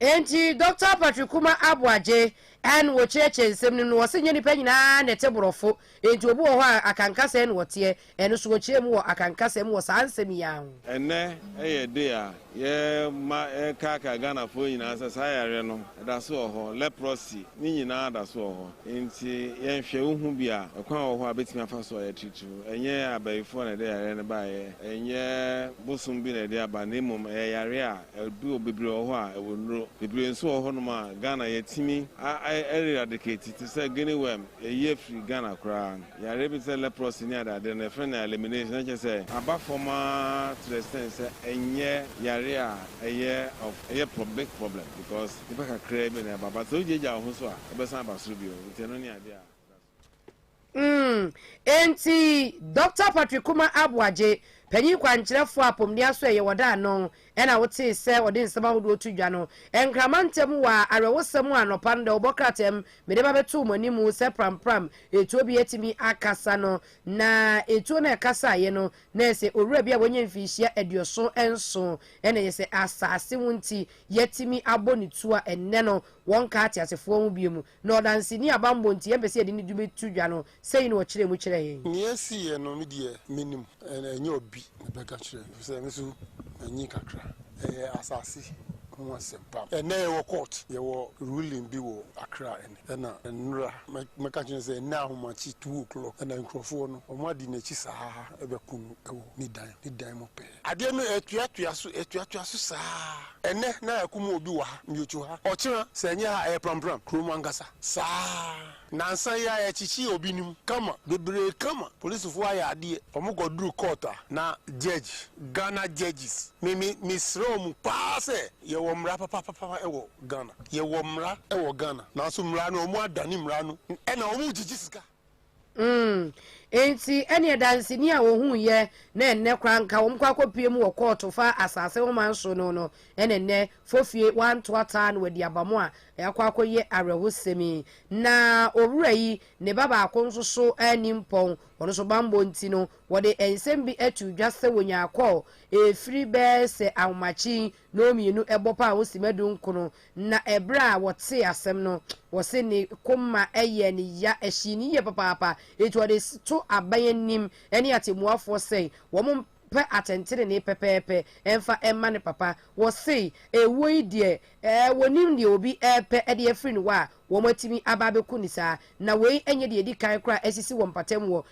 A: Enti Dɔkta Patrick Kuma Aboagye na wɔkyerɛkyerɛ nsɛm no mu no, wɔse nyɛ nnipa nyinaa na ɛte borɔfo, enti obi wɔ hɔ a Akanka sɛɛ na ɔteɛ, ɛno nso wɔkyerɛ mu wɔ Akanka sɛm wɔ saa nsɛm yi ara ho. Ɛnnɛ yɛ
I: day a yɛma yɛkaakae Ghanafoɔ nyinaa sɛ saa yareɛ no ɛda so wɔ hɔ, leprosy no nyinaa da so wɔ hɔ, enti yɛnhwɛ, wohu bi a, ɛkwan wɔ hɔ a bɛtumi afa so a yɛatreat. Ɛnyɛ abayifoɔ na ɛde yareɛ no baeɛ, ɛnyɛ bosom bi na ɛde aba, na mmom ɛyɛ yareɛ a ɛduru hɔ, bebree wɔ hɔ a ɛwɔ nnuro, bebree nso wɔ hɔnom a Ghana yɛtumi a eradicate te sɛ guinea worm, ɛyi afiri Ghana koraa, yareɛ bi te sɛ leprosy ne adeadeɛ no yɛfrɛ no elimination, na kyerɛ sɛ aba fam ara to the extent sɛ ɛnyɛ yareɛ a ɛyɛ of ɛyɛ prob big problem because nnipa kakraa bi na ɛba but sɛ wogyaagyaa wo ho so a ɛbɛsan aba soro bio, nti ɛno ne adeɛ a ɛda so. Mm, enti
A: Dɔkta Patrick Kumar Aboagye, panyin kwankyerɛfo a Pomdea so ɛyɛ wɔ da ano, ɛna wotee sɛ ɔde nsɛm ahodoɔ reto dwa no, nkrama ntam wɔ awerɛhosɛm a anɔpa no dawubɔ krataa mu mede ba bɛtoo mo anim sɛ prampram etuo bi atumi akasa no, na etuo no a ɛkasaeɛ no, na ɛyɛ sɛ owura bi a wanya mfinhyia aduoson nson, ɛna ɛyɛ sɛ asase ho nti, yɛatumi abɔ ne tuo a ɛnnɛ no wɔnka ateasefoɔ ho bio mu. Na ɔdanseni a bammɔ nti yɛmpɛ sɛ yɛde ne din bɛto dwa no, sei na ɔkyerɛɛ mu kyerɛɛ yɛn. Nea ɛsiiɛ no, me deɛ
J: mennim. Ɛnyɛ obi na ɛbɛka kyerɛɛ me, ɛfisɛ me nso manyin kakra. Ɛyɛ asase ho asɛm pa. Ɛnnɛ yɛwɔ court, yɛwɔ ruling bi wɔ Accra ɛnnɛ. Ɛna nnora mɛka akyerɛ no sɛ ɛnnɛ ahomakye two o'clock ɛna nkurɔfoɔ no, wɔadi n'akyi saa bɛko no wɔ ne dan, ne dan mu pɛɛ. Adeɛ no atuatua so, atuatua so saa. Ɛnnɛ na yɛakum obi wɔ ha, Miocho ha. Ɔkyena, sɛ ɛnyɛ ha a, ɛyɛ Prampram, kuro mu ankasa. Saa. Nansa yi ara, yɛkyekyee obi no mu, kama, bebree kama. Polisfoɔ ayɛ adeɛ. Wɔkɔduruu court a, na judge, Ghana judges, me, me, mesrɛ wɔn paa sɛ, yɛwɔ mmara papapapa wɔ Ghana. Yɛwɔ mmara wɔ Ghana. Nanso mmara no, wɔadane mmara no, ɛna wɔregyigye sika. Mm. Enti, ɛnneɛ danseni a wɔhuiɛ na ɛnnɛ koraa nka wɔkɔ akɔpue mu wɔ kɔɔto fa asase ho man so no no na ɛnnɛ fofie wanto ataa na wadi aba mu a ɛakɔ akɔyɛ awerɛhosɛm yi. Na owura yi, ne ba baako nso so anni mpɔn, ɔno nso bammɔ nti no, wɔde nsɛm bi too dwa sɛ wɔnyaa kɔɔ ɛfiri bɛyɛ sɛ ahomakye yi No mmienu bɔ paa ho simma du nkron, na ɛberɛ a wɔtee asɛm no, wɔse ne koma yɛɛ no ya, ɛhyee no yie papaapa, enti ɔde to aban anim ne atɛmmuafoɔ sɛ wɔn mpɛ atɛntenenee pɛpɛɛpɛ mfa mma ne papa. Wɔse ɛwuo yi deɛ wɔnim deɛ obi repɛ de afiri ne hɔ a wɔatumi aba abɛku no saa, na wei nyɛ deɛ ɛdi kan koraa asisi wɔ mpatam wɔ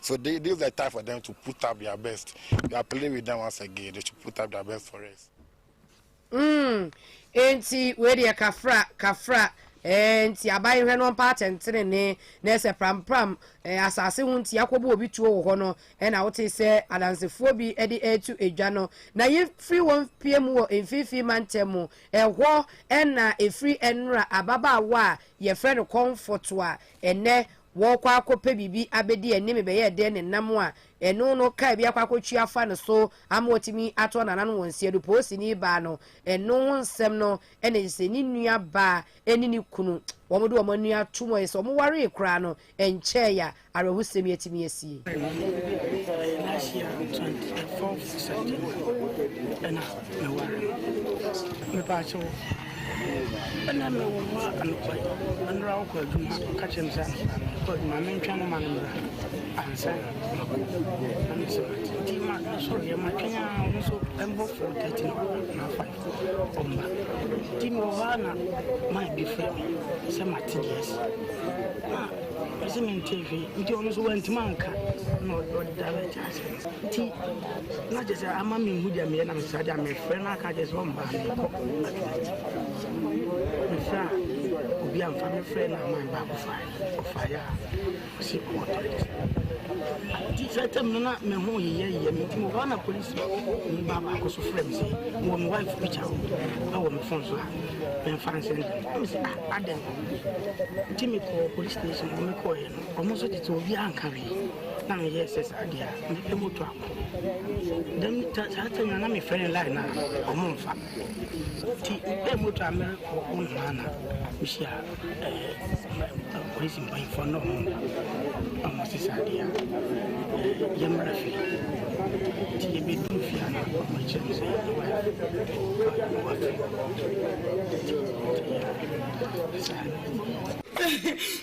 J: So they, this is the time for them to put up their best. We are playing with them once again. They should put up their best for us. Mm. Enti wei deɛ kafra kafra eh, nti aban hwɛ no mpa atɛntene ne na ɛsɛ prampram eh, asase ho nti akɔbɔ obi tuo wɔ hɔ no ɛna eh, wote sɛ adansefoɔ bi eh, de ɛretu eh, adwa no na yɛfiri wɔn pie mu wɔ mfimfini mantam mu ɛhɔ eh, ɛna ɛfiri ɛnora ababaawa a yɛfrɛ no kɔmfɔto a ɛnɛ Wɔrekɔ akɔpɛ biribi abɛdi ɛnne me bɛyɛɛ dɛn ne nam a ɛno no kaa bi akɔ akɔtwi afa no so ama watumi atɔ n'anan wɔ nsiadu poosini baa no ɛno ho nsɛm no ɛna ɛyɛ sɛ ne nua baa ɛne ne kunu wɔn de wɔn ani atom ɛyɛ sɛ wɔn waree koraa no ɛnkyɛɛ ya awerɛhosɛm yi atumi asie. Nna me wo mma anɔpa yi, mber a wɔkɔ edwuma no, wɔka kyerɛ me dɛ mokɔ edwuma a mentwɛn ma no mbra ansa na makɔ. Na me so ntsi ma mosoɛr yɛ matwɛn a ɔno so mber four thirty no na ɔafa no ɔmmba. Ntsi mowɔ hɔ a na man bi frɛ me sɛ matse dza esi na ɔse menntse hwee ntsi ɔno so oenntum annka na ɔda bɛtse ase. Nti na kyerɛ sɛ ama menhu deɛ meyɛ na mesra deɛ mefrɛ no aka kyerɛ sɛ ɔmmaa mekɔ mefrɛ a obi amfa mefrɛ no ama baako fae ɔfaeɛ a ɔse ɔwɔ tɔyɛ nti sɛ tam no na me ho yeyɛ yeyɛ me nti wɔhɔ na polisi ni ba baako so frɛ me sɛ mewɔ me wife picture o ɛwɔ me fon so a memfa nsɛn dɛm me sɛ adɛn nti mekɔɔ police station hɔ mekɔɔyɛ no ɔmo nso tete obi anka wee na
K: meyɛ sɛ saa deɛ a mepɛ moto akɔ dɛm saa tɛm na mefrɛ no line no a ɔmo mfa nti mepɛ moto a merekɔ wo nhaa na mehyia polisi mpanyinfoɔ na ɔmo na ɔmo se saa deɛ a yɛmmra fie nti yɛbɛduru fie a na ɔmo kyerɛ me sɛ yɛwa yɛwa fie
L: saa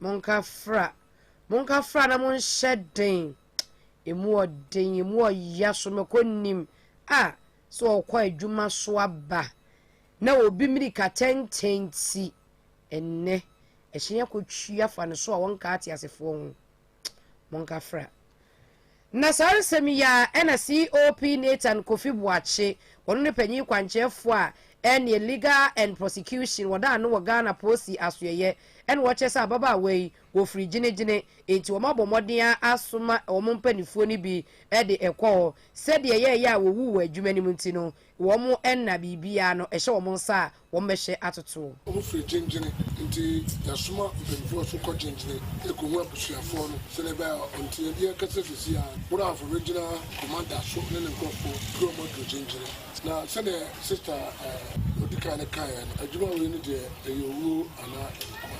L: Monka fra,
A: monka fra na monhyɛ den. Emu ɔden, emu ɔya so mɛkɔ nim. A, sɛ ɔkɔ adwuma so aba na obi mirika tɛntɛn ti ɛnnɛ, ɛhyɛn akɔtwi afa ne so a wɔnka ateasefoɔ ho. monkafra. Na saa nsɛm yi ara ɛna COP Nathan Kofi Boakye, ɔno ne panyin kwankyɛɛfoɔ a ɛneɛ Legal and Prosecution, wɔdaa no wɔ Ghana Posi asoɛeɛ ɛna ɔkyerɛ sɛ ababaawa yi wɔfiri gyene-gyene enti wɔabɔ mmɔden ara asoma wɔn mpaninfoɔ no bi de ɛkɔ hɔ sɛdeɛ ɛyɛɛyɛ a wɔwu wɔ adwuma no mu nti no wɔn nna biribiara no ɛhyɛ wɔn nsa a wɔbɛhyɛ atoto. Ɔmo firi Gyengyene
M: nti yasoma mpanyinfoɔ so kɔ Gyengyene ekohu abusuafoɔ no sɛdeɛ ɛbɛyɛ a ɔnteɛdeɛ akɛseɛ sɛsi ara Woraafo Regional Commander so ne ne nkorɔfoɔ pue ɔmo aduru Gyengyene na sɛdeɛ Sister ɛɛ odikan no kaeɛ no adwuma wei no deɛ ɛyɛ owuo anaa nkwa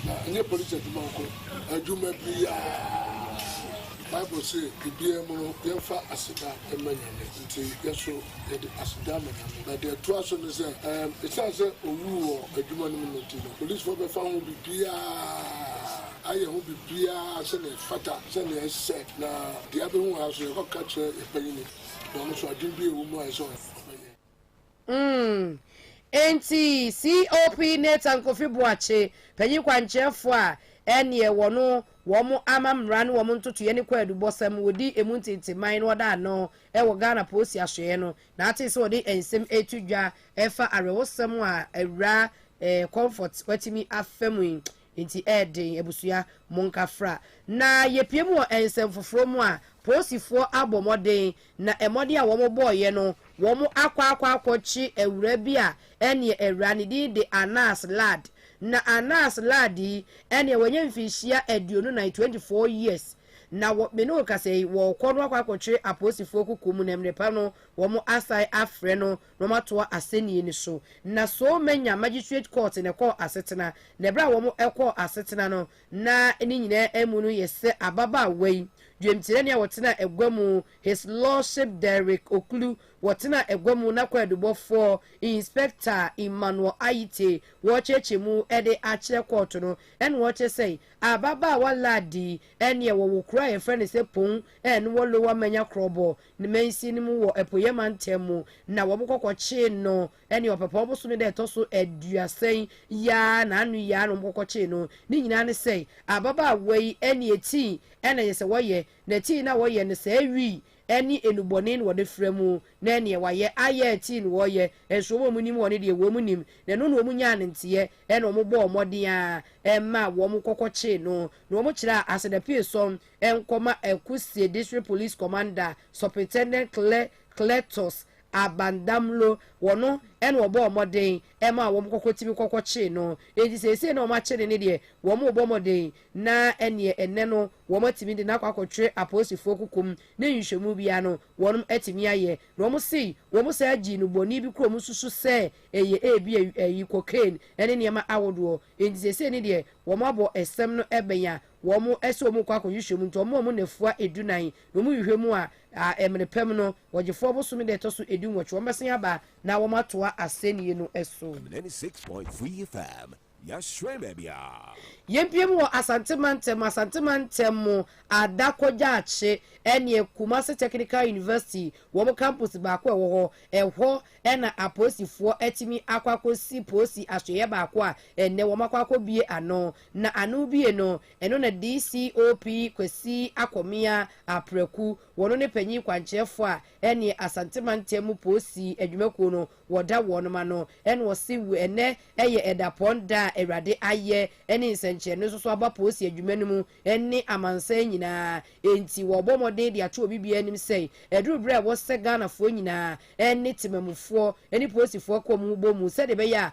M: na ɛnyɛ Police adwuma nko adwuma biaa Bible se biaa mu no yɛnfa aseda mma Nyame. Enti yɛso yɛde aseda ma Nyame. Na deɛ ɛtoa so ne sɛ, ɛɛm, ɛsiane sɛ ɔwuu wɔ adwuma no mu no nti no, polisfoɔ bɛfa ho biribiara, ayɛ ho biribiara sɛdeɛ ɛfata, sɛdeɛ ɛsɛ. Na deɛ abɛhu ha nso, yɛkɔka kyerɛ yɛn panyini, na ɔno nso adwene bi a ɛwɔ mu a ɛsɛ sɛ ɔfa yɛ. Umm
A: enti COP Nathan Kofi Boakye, panyin kwankyerɛfo a ɛneɛ wɔno wɔn ama mmara ne wɔn ntotoeɛ ne kwaadubɔsɛm wɔdi emu ntenteman no ɔda ano wɔ Ghana Polisi Asoɛeɛ no na atee sɛ wɔde nsɛm reto dwa ɛfa awerɛhosɛm a awuraa Comfort watumi afa mu yi Enti ɛyɛ den, abusua, monka fra na yɛpue mu wɔ nsɛm foforɔ mu a poosifoɔ abɔ mmɔden, na mmɔden a wɔn bɔeɛ no, wɔn akɔ akɔ akɔ kye awuraa bi a ɛneɛ awuraa no din de Anas Lad, na Anas Lad yi ɛneɛ wanya mfirihyia aduonu nan, 24 years, na wɔ me ne wo kasa yi wɔɔkɔ no akɔ akɔ twe apoosifoɔ kuku mu na mmerɛ pa no wɔn asan afrɛ no na wɔn atoa asɛnnie no so. Na Seoul Manya Magistrate Court na ɛkɔɔ asetena, na ɛberɛ a wɔn kɔɔ asetena no, na ne nyinaa amu no yɛ sɛ ababaawa yi, dwemkyerɛni a ɔtenaa agua mu, His Lordship Derrick Oklu, ɔtenaa agua mu, na kwaadubɔfoɔ, Inspector Emmanuel Ayite, wɔrekyerɛkyerɛ mu de akyerɛ kɔɔto no, ɛna wɔrekyerɛ sɛ ababaawa Ladi yi, ɛneɛ wɔwo kuro a yɛfrɛ no sɛ Pong, ɛna wɔ Lower Manya Krɔbor, Ne mansin no mu wɔ apueɛ mantam mu, na wɔkɔkɔkyee no ne ɔpɛpɔɔ bosome da a ɛtɔ so aduasa yi ara, na ano yi ara na wɔkɔkɔkyee no. Ne nyinaa ne sɛ, ababaawa yi ne eti na ɛyɛ sɛ wɔyɛ, na eti no a wɔyɛ no, saa awi ne nnubɔne na wɔde fra mu, na ɛnneɛ wɔayɛ ayɛ eti na wɔyɛ, nso wɔn a wɔnim wɔn no deɛ, wɔn nim, na ɛno na wɔnyaa no nteɛ, na wɔbɔɔ mmɔden ara maa wɔkɔkɔkyee no, na wɔkyerɛɛ asedapue sɔn nkɔma Akusie District Police Commander Supritendent Clea Cletus Abandamlo, wɔn na wɔbɔɔ mmɔden maa wɔn kɔkɔ tumi kɔkɔ kyee no, enti seesei na wɔn akye no ne deɛ wɔn rebɔ mmɔden na ɛneɛ ɛnnɛ no wɔn atumi de no akɔ akɔtwere apolisifoɔ kokom ne nhwehwɛmu biara no wɔn atumi ayɛ na wɔn se wɔn saa gyee no bɔne bi koro a wɔn susu sɛ ɛyɛ ebia ayi cocaine ne nneɛma ahodoɔ, enti seesei ne deɛ wɔn abɔ ɛsɛm no bɛn a wɔn
J: sɛ wɔn rekɔ akɔhwehwɛ mu nti wɔn a wɔn nafua edu nan na wɔn hwehwɛ mu a ɛmere pɛm no wɔgyefo ɔbosome da ɛtɔ so edu nwɔtwe wɔn bɛsen aba na wɔn atoa asɛnnie no so. Am 96.3
B: FM, Yɛahyerɛn baabiara. Yɛmpiem wɔ
J: Asante Mantam, Asante Mantam mu Ada Kwadwoakye ɛneɛ Kumasi Technical University wɔn campus baako a ɛwɔ hɔ, ɛhɔ na apolisifoɔ atumi akɔ akɔsi polisi asoɛeɛ baako a ɛnnɛ wɔn akɔ akɔbue ano Na ano bie no, ɛno na DCOP Kwasi Akɔmea Apraku, wɔno ne panyin kwankyerɛfoɔ a ɛneɛ Asante mantam mu poosi adwumakuo no wɔda wɔnom ano, ɛna ɔse ɛnɛ ɛyɛ ɛdapɔn da a Awurade ayɛ ɛne nsɛnkyerɛnne nso so aba poosi adwuma no mu ɛne amansan nyinaa, enti wɔɔbɔ mmɔden de ato obi biara anim sɛe ɛduru berɛ a ɛwɔ sɛ Ghanafoɔ nyinaa ɛne temamufoɔ ɛne poosifoɔ kɔm ho bɔ mu sɛdeɛ ɛbɛyɛ a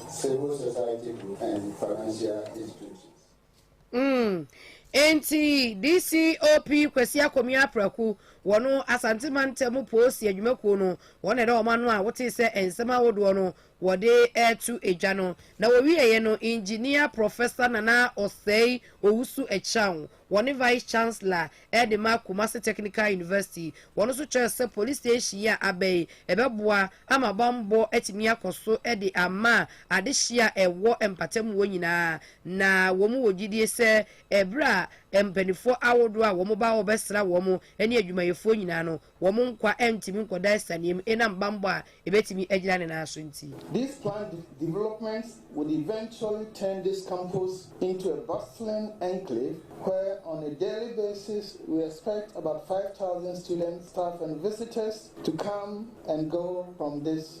N: Civil Society Group and Financial
J: Institutions. Mm, enti DCOP Kwasi Akomia Apraku, wɔ no Asante Mantam Poosi Adwumakuo no, wɔn na ɛda wɔn ano a wotee sɛ nsɛm ahodoɔ no wɔde reto edwa no. Na wɔwieeɛ no, Engineer Professor Nana Osei Owusu Akyang, Wɔne Vice Chancellor de ma Kumasi Technical University. Wɔn nso kyerɛɛ sɛ police station yi a aba yi, ɛbɛboa ama bammɔ atumi akɔ so de ama adehye a ɛwɔ mpatamu hɔ nyinaa. Na wɔn wɔ gyidie sɛ ɛberɛ a mpaninfoɔ ahodoɔ a wɔn ba hɔ bɛsra wɔn ne adwumayɛfoɔ nyinaa no, wɔn nkwa ntumi nkɔda asianneɛ mu ɛnam bammɔ a ɛbɛtumi agyina ne nan so nti. These planned
O: developments would eventually turn this campus into a bustling enclave where on a daily basis we expect about five thousand students, staff and visitors to come and go from this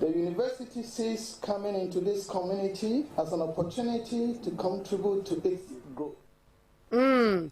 O: The university sees coming into this community as an opportunity to contribute to its growth. Mm.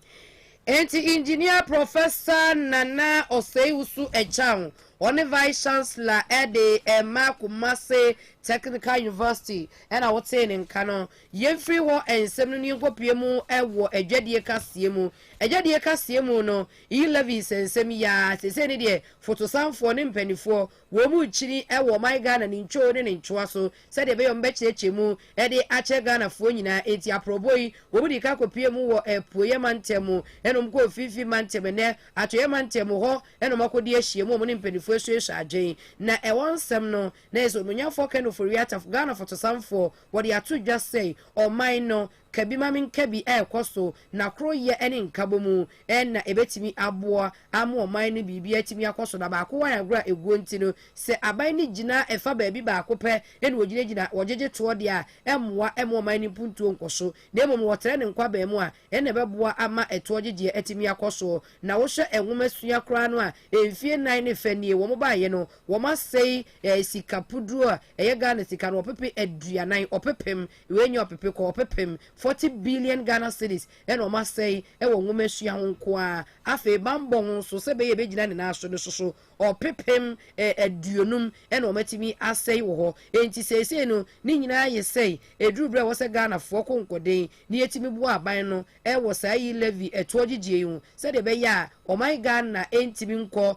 J: Enti Engineer Professor Nana Osei-Usu Echang, ɔne Vice Chancellor de ɛma Kumasi Technical University ɛna wotee ne nka no. Yɛmfiri hɔ nsɛm no ne yɛnkɔpue mu wɔ adwadie kaseɛ mu. Adwadie kaseɛ mu no, E-Levies nsɛm yi ara, seesei ne deɛ fotosanfoɔ ne mpanimfoɔ Wɔn mu nkyini wɔ ɔman Ghana ne ntwoo ne ne ntwoa so sɛdeɛ ɛbɛyɛ wɔbɛkyerɛkyerɛ mu de akyerɛ Ghanafoɔ nyinaa. Enti aprɔbɔ yi, wɔn dii kan kɔpuee mu wɔ Apueɛ Mantam mu, ɛna wɔn kɔɔ Mfimfini Mantam, ɛnnɛ Atɔeɛ Mantam mu, hɔ na wɔn akɔdi ahyiam a wɔn ne mpanimfoɔ asuasua adwen. Na ɛhɔ nsɛm no, na ɛyɛ sɛ Onuonyanfoɔ Ken Ofori-Atta, Ghana Fotosanfoɔ, wɔde ato dwa sɛe ɔman no, Ka bi ma me nka bi a ɛkɔ so na koroyɛ ne nkabomu na ɛbɛtumi aboa ama ɔman no biribi atumi akɔ so na baako wɔ anagorɔ a ɛguo nti no sɛ aban no gyina ɛfa baabi baako pɛ na wɔgyinagyina wɔgyegye toɔ deɛ a ɛmmoa ɛma ɔman no mpuntuo nkɔ so na mmom no wɔtrɛ no nkwaben mu a ɛnna ɛbɛboa ama ɛtoɔ gyegyeɛ atumi akɔ so na wohwɛ nwoma sua koraa no a mfie nnan ne fɛ nie wɔn baeɛ no wɔn asɛe eh, sika puduro a ɛyɛ Ghana sika no ɔpepe aduanan ɔpepem Wei nyɛ ɔpepe kɔ ɔpepem, forty billion Ghana cedis, na wɔn asɛe wɔ nwomasua ho nko ara. Afei bammɔ ho nso, sɛ ɛbɛyɛ ɛbɛgyina ne nan so no nso so, ɔpepem aduonum na wɔn atumi asɛe wɔ hɔ. Enti seesei no, ne nyinaa ayɛ sɛe. Ɛduru berɛ a ɛwɔ sɛ Ghanafoɔ ko nkɔden na yɛtumi boa aban no wɔ saa e-levy ɛtoɔ gyegyeɛ yi ho, sɛdeɛ ɛbɛyɛ a ɔman Ghana ntumi nkɔ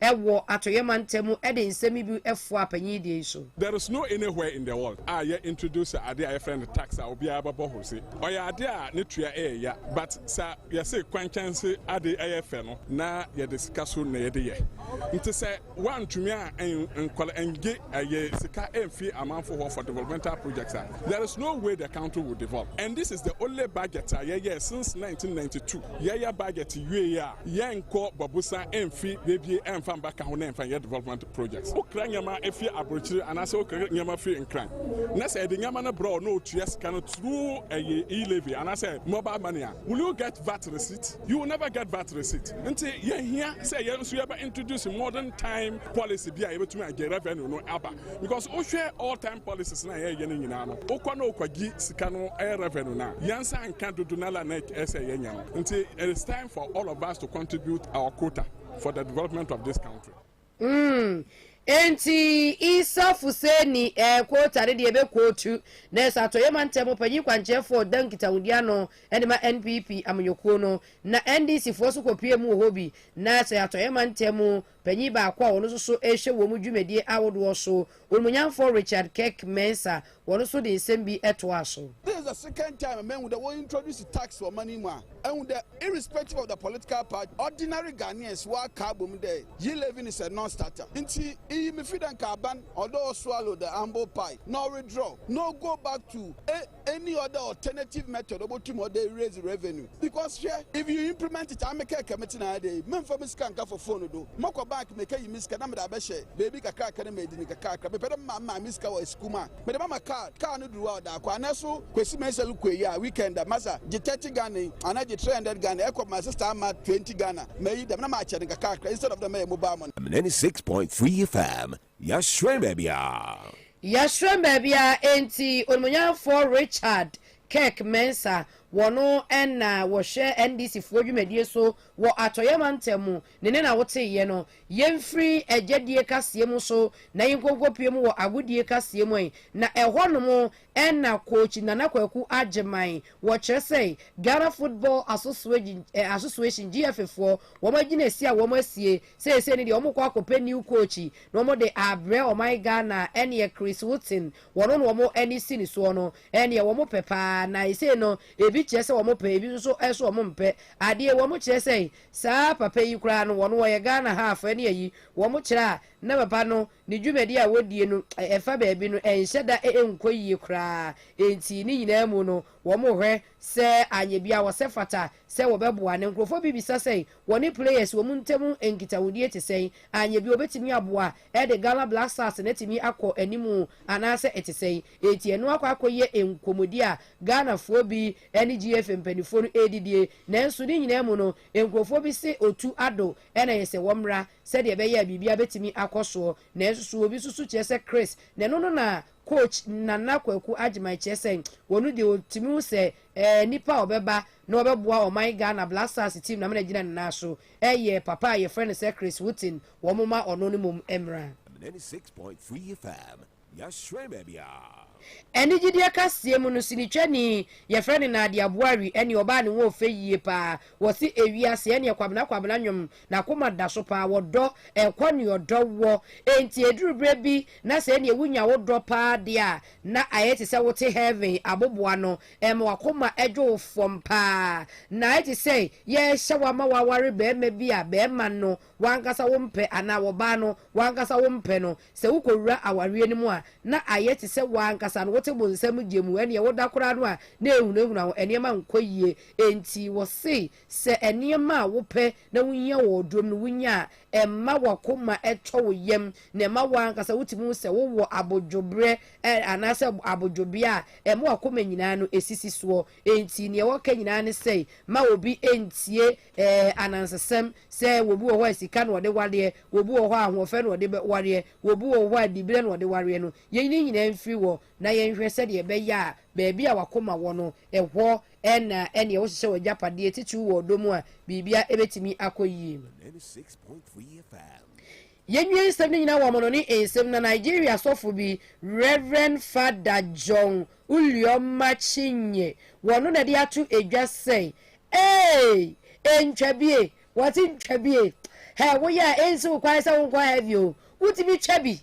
J: wɔ atɔeɛ mantam mu de nsɛm yi bi foa panyin deɛ yi so. There is no anywhere
P: in the world a yɛ introduce adeɛ a yɛfrɛ no tax a obiara bɛbɔ ho se ɔyɛ adeɛ a ne tua yɛ ya but sa yɛse kwankyan se ade yɛ fɛ no na yɛde sika so na yɛde yɛ nti sɛ woantumi a nkɔla ngye yɛ sika mfi amanfo hɔ for developmental projects a There is no way the country will develop and this is the only budget a yɛyɛɛ since 1992. Yɛyɛ budget wieɛ a, yɛnkɔ Babusa mfi bebie mfa mba ka ho na yɛmfa nyɛ development projects. Wokra nneɛma fi aborokyire anaasɛ wokra nneɛma fi Nkran na sɛ yɛde nneɛma no brɛ wo na wotua sika no through ɛyɛ e-levy anaasɛ mobile money a, will you get VAT receipt? You will never get VAT receipt. Nti yɛhia sɛ yɛn nso yɛbɛ introduce modern time policy bi a yɛbɛtumi agye revenue no aba. because wohwɛ all time policies na yɛyɛ no nyinaa no wokɔ na wokɔgye sika no ɛyɛ revenue no a yɛnsa nka dodo no la na ɛsɛ yɛnya no nti it is time for all of us to contribute our quota for the development of this country mm. Enti Isa Fuseni eh, quota ne deɛ ɛbɛkootu na ɛsɛ atɔyɛ ma ntɛm panyin kwankyerɛfoɔ da nkitahodi ano de ma NPP amanyɔkuo no na NDCfoɔ so kɔpie mu wɔ hɔ bi na ɛsɛ atɔyɛ ma ntɛm Panyin baako a ɔno nso so rehwɛ wɔn dwumadie ahodoɔ so, Onumunyanfoɔ Richard Kirk Mensah, wɔno nso de nsɛm bi toaa so. This is the second time
Q: a mahu dɛ wɔ introduce tax wɔ ɔman yi mu a ehu dɛ irrespective of the political party ordinary Ghanaians wa ka abom dɛ yi levy no is a non starter nti iyi me fi dɛ nka aban ɔdɔ ɔswallow the humble pie na ɔwedraw na ogo back to a Any other alternative method obotum ɔde raise revenue because hwɛ if you implement it ame kɛ kɛ metse na dɛ yi memmfa me sika nnkafo phone do mɔkɔ bank mekeyi me sika na mede abɛhyɛ beebi kakraka na medi no kakrakra mepɛ dɛ mema me maame sika wɔ esukuu mu a mede bɛma card car no duru a ɔda akɔ anɛ so Kwesi Mensah lukuu eyi a weekend a masa gye thirty Ghana yi anaa gye three hundred Ghana ɛkɔ my sister ama twenty Ghana meyi dɛm na makyɛ no kakrakra instead of dɛ mɛyɛ mobile money. Mneni six point three
B: FM Yɛhyerɛn baabiara. Yɛhyerɛn baabiara,
J: enti Onimuonyamfoɔ Richard Kirk Mensah, wɔno na wɔhwɛ NDC foɔ dwumadie so wɔ Atɔeɛ Mantam mu, ne nne na woteeɛ no. Yɛmfiri agyadie kaseɛ mu so na yɛnkɔnkɔpue mu wɔ agodie kaseɛ mu ɛ, na ɛhɔ nom ɛna coach Nana Kwaku Agyeman, wɔkyerɛ sɛ Ghana Football Association, GFA, foɔ, wɔn agyinasie a wɔn asie seesei ne deɛ wɔn kɔ akɔpɛ new coach na wɔn de abrɛ ɔman Ghana ɛneɛ Chris Hughton, wɔn na wɔn ani si ne soɔ no, ɛneɛ wɔn pɛ paa, na esei no ebi kyerɛ sɛ wɔn pɛ, ebi nso so wɔn mpɛ adeɛ, wɔn kyerɛ sɛ saa papa yi koraa no wɔn wɔyɛ Ghana half ɛneɛ yi wɔn kyerɛ a na papa no Ne dwumadi a wodie no ɛfa baabi no ɛnhyɛ da nkɔ yie koraa, enti ne nyinaa mu no wɔhwɛ sɛ anyɛ biaa wɔsɛ fata sɛ wɔbɛboa no. Nkurɔfoɔ bi bisa sɛ wɔne players wɔn ntam nkitahodie te sɛn, anyɛ bi wɔbɛtumi aboa de Ghana Black Stars no atumi akɔ anim anaasɛ ɛte sɛn, enti ɛno akɔ akɔyɛ nkɔmmɔdie a Ghanafoɔ bi ne GFA mpaninfoɔ no ɛredidie. Nanso ne nyinaa mu no nkurɔfoɔ bi se otu adɔ Ɛnna ɛyɛ sɛ wɔmmra, sɛdeɛ ɛbɛyɛ a biribiara bɛtumi akɔ soɔ. Nanso so obi susu kyerɛ sɛ Chris na ɛno no na coach Nana Kwaku Agyeman kyerɛ sɛ ɔno deɛ ɔtumi hu sɛ ɛɛ nipa a ɔbɛba na ɔbɛboa ɔman Ghana Black Stars team no ama no agyina ne nan so ɛyɛ papa a yɛfrɛ no sɛ Chris Hughton, wɔmma ɔno no mmom mmra. Ninety six point
B: three FM Yɛahyerɛn baabiara.
J: Anigyedeɛ kaseɛ mu no, sinitwani yɛfrɛ no Nadia Buari ɛne ɔbaa ne ho ɔfɛ yie paa, wɔse ewiase ɛneɛ Kwabena Kwabena nwom nakoma daso paa wɔdɔ ɛkɔ neɛ ɔdɔ wɔ enti ɛduru berɛ bi na sɛ ɛneɛ wonya wo dɔ paa deɛ a na ayɛ te sɛ wote heaven aboboa no ɛma wakoma ɛdwo wo fam paa na ayɛ te sɛ yɛrehyɛ wo ama waware bɛɛma bi a bɛɛma no wankasa wompɛ anaa wɔbaa no W'ankasa wompɛ no. Sɛ wokɔwura awareɛ no mu a, na ayɛ te sɛ w'ankasa no wote bonsam gye mu. Ɛnneɛ woda koraa no a, na ɛrehunahuna wo. Nneɛma nkɔ yie. Enti wɔse, sɛ nneɛma a wopɛ na wohia wɔ ɔdɔm no wonya a, ɛmma w'akoma tɔ wo yam, na ɛma wo ankasa wotumi hu sɛ wowɔ abodwoberɛ anaasɛ abodwobea a ɛma w'akoma nyinaa no sisi soɔ. Enti deɛ wɔka nyinaa ne sɛe, ma obi ntie Ɛɛ anansesɛm sɛ obi wɔ hɔ a sika na ɔde wareɛ, obi wɔ hɔ a ahoɔfɛ na ɔde wareɛ, obi wɔ hɔ a diberɛ na ɔde wareɛ no, yei ne nyinaa mfiri hɔ na yɛnhwɛ sɛdeɛ ɛbɛyɛ a baabi a w'akoma wɔ no, ɛhɔ na ɛneɛ wohyehyɛ w'agyapadeɛ titiriw wɔ ɔdɔ mu a biribiara bɛtumi akɔ yie.
B: Yɛnnue nsɛm
J: no nyinaa wɔ amanɔne nsɛm na Nigeria sɔfo bi Rev. Fada John Ulioma Chinye wɔ no na ɛde ato edwa sɛ, Eeii! Ntwa bi e! Wɔse ntwa bi e! Hɛ! Woyɛ a ensi wo kwan sɛ wonkɔ hɛ bio o! Wotumi twa bi!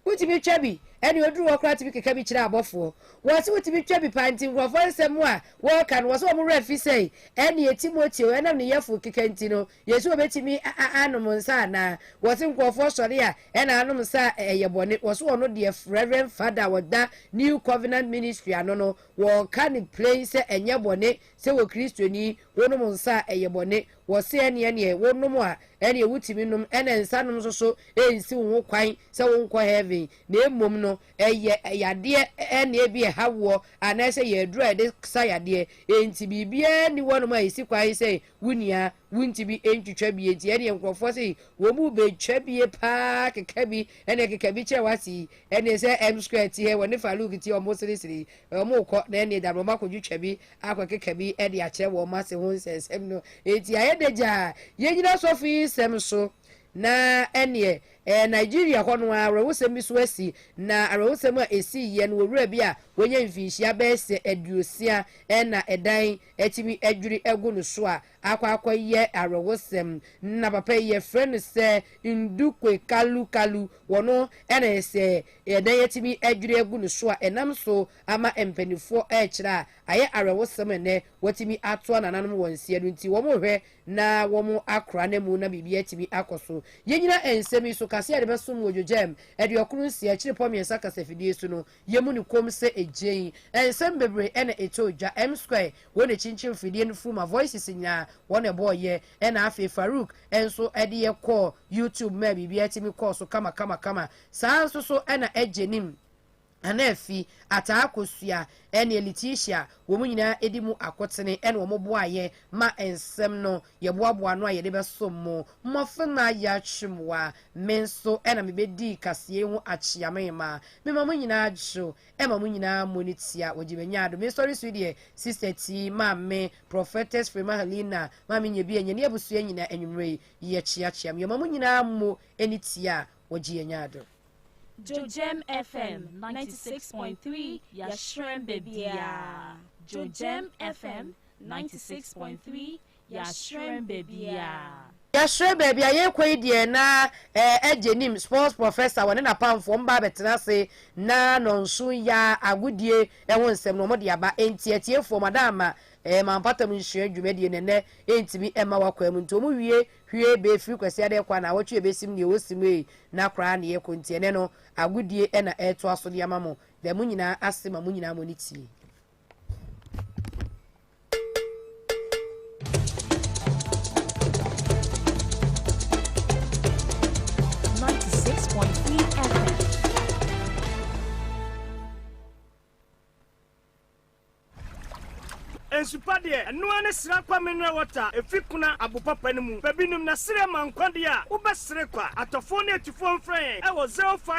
J: Wotumi twa bi! Ɛne oduru hɔ koraa tumi keka bi kyerɛ abɔfoɔ. Wɔse wotumi twa bi paa nti nkurɔfoɔ nsɛm a wɔka no wɔse wɔn werɛ fi sɛe. Ɛne Timoteo, ɛnam ne yɛfo keka nti no, Yesu obetumi anom nsa anaa? Wɔse nkurɔfoɔ sɔre a ɛna anom nsa a ɛyɛ bɔne. Wɔse ɔno deɛ Reverend Father a ɔda New Covenant Ministry ano no wɔka no plain sɛ ɛnyɛ bɔne sɛ wɔ Kristoni wonom nsa a ɛyɛ bɔne. Wɔse ɛneɛ neɛ wonom a ɛneɛ wotumi nom ɛna nsa nom nso so ɛnsi wo ho kwan sɛ wo nkɔ heaven na mmom no ɛyɛ yadeɛ ɛna ebi ɛha woɔ anaasɛ ɛyɛ aduro a yɛde sa yadeɛ enti biribiara nni hɔnom a ɛsi kwan sɛ wo nua wontumi ntwitwa bie nti ɛneɛ nkorɔfoɔ sei wɔn mu bɛtwa bie paa keka bi ɛneɛ keka bi kyerɛ wase yi ɛneɛ sɛ M square teɛ wɔne Farouk teɛ wɔn sere sere yi wɔn rekɔ na ɛneɛ da no wɔn akɔ twitwa bi akɔ keka bi ɛde akyerɛ wɔn ase ho nsɛnsɛm no ɛti ayɛ dɛ gyaa yɛn nyina sɔfo yi nsɛm so na ɛneɛ ɛɛ Nigeria hɔ no ara awerɛhosɛm bi so asi na awerɛhosɛm a ɛsii yɛ no owura bi a wanya mfinhyia bɛɛsɛ aduosia ɛna ɛdan atumi adwiri agu no so a, akɔ akɔyɛ awerɛhosɛm. Ná papa yi, wɔfrɛ no sɛ Ndukwe Kalu Kalu. Wɔno na ɛyɛ sɛ na yɛatumi adwiri agu no so a ɛnam so ama mpanimfoɔ rekyerɛ a ayɛ awerɛhosɛm a nnɛ wɔatumi atoa nananom wɔn nseɛ no nti wɔrehwɛ na wɔakora no amu na biribiara atumi akɔ so. Yɛnnyina nsɛm yi so ka sɛ yɛde bɛsom wɔ Dwogyam Aduɔkron Nsia Akyirepɔ Mmiɛnsa Kasafidie so no, Yɛmmu no komm sɛ egyen. Nsɛm bebree na ɛtɔɔ dwa. M-Square, wɔn na ɛkyinkyim mfidie no firi mu a Voices nyinaa, wɔn na ɛbɔɔ yɛ. Ɛna afei Farouk nso de yɛ kɔɔ YouTube maa biribiara tumi kɔɔ so kamakamakama. Saa ara nso so na Agyenim, Anaafi, Ataa Kosua, ne Letitia, wɔn nyinaa di mu akotene na wɔboaa yɛ ma nsɛm no Yɛboaboaa ano a yɛde bɛsom mo. Mmɔfemma, yɛatwe mo a, me nso na mibedii kaseɛ yi ho akyeamema. Mema mo nyinaa dwo. Ɛma mo nyinaa mmɔ ne tia. Wɔgye me nyaado. Me nsɔre so yi deɛ, Sista Ti, Maame, Prophetess Frema Helena, Maame Nyebea, Nyani abusua nyinaa, anwummerɛ yi, yɛkyeakyea mo. Yɛma mo nyinaa mmɔ ne tia a wɔgye yɛn nyaado. Jojjm FM ninety six point
R: three Yɛahyerɛn baabiara Jojjm FM ninety six point three Yɛahyerɛn Baabiara. Yɛahyerɛn
J: Baabiara, Yɛrekɔ yi deɛ na eh Agye nim Sports Professor wɔne n'apamfoɔ wɔn ba abɛtena ase na Nɔnso ya agodie ho nsɛm no wɔde aba Enti atiefoɔ moada ama eh Ma Mpɔtam Nhyira dwumadie no ɛnnɛ ɛntumi mma w'akwaa mu Nti wɔn wie hwie bɛ firi Kwasiada ɛkɔ a naawɔtwe ɛbɛsim Deɛ ɔsi mu ei na koraa na yɛkɔ Nti ɛnnɛ no agodie na ɛretoa so de ama mo Dɛ mo nyinaa ase ma mo nyinaa mo ani tie.
S: nsupa deɛ ɛnoa ne sra kwa mineral water efi kuna abopapa no mu baabi nim na sere ma nkwa deɛ a wobɛsere kwa atɔfoɔ ne atifoɔ mfrɛ yɛn ɛwɔ zero five.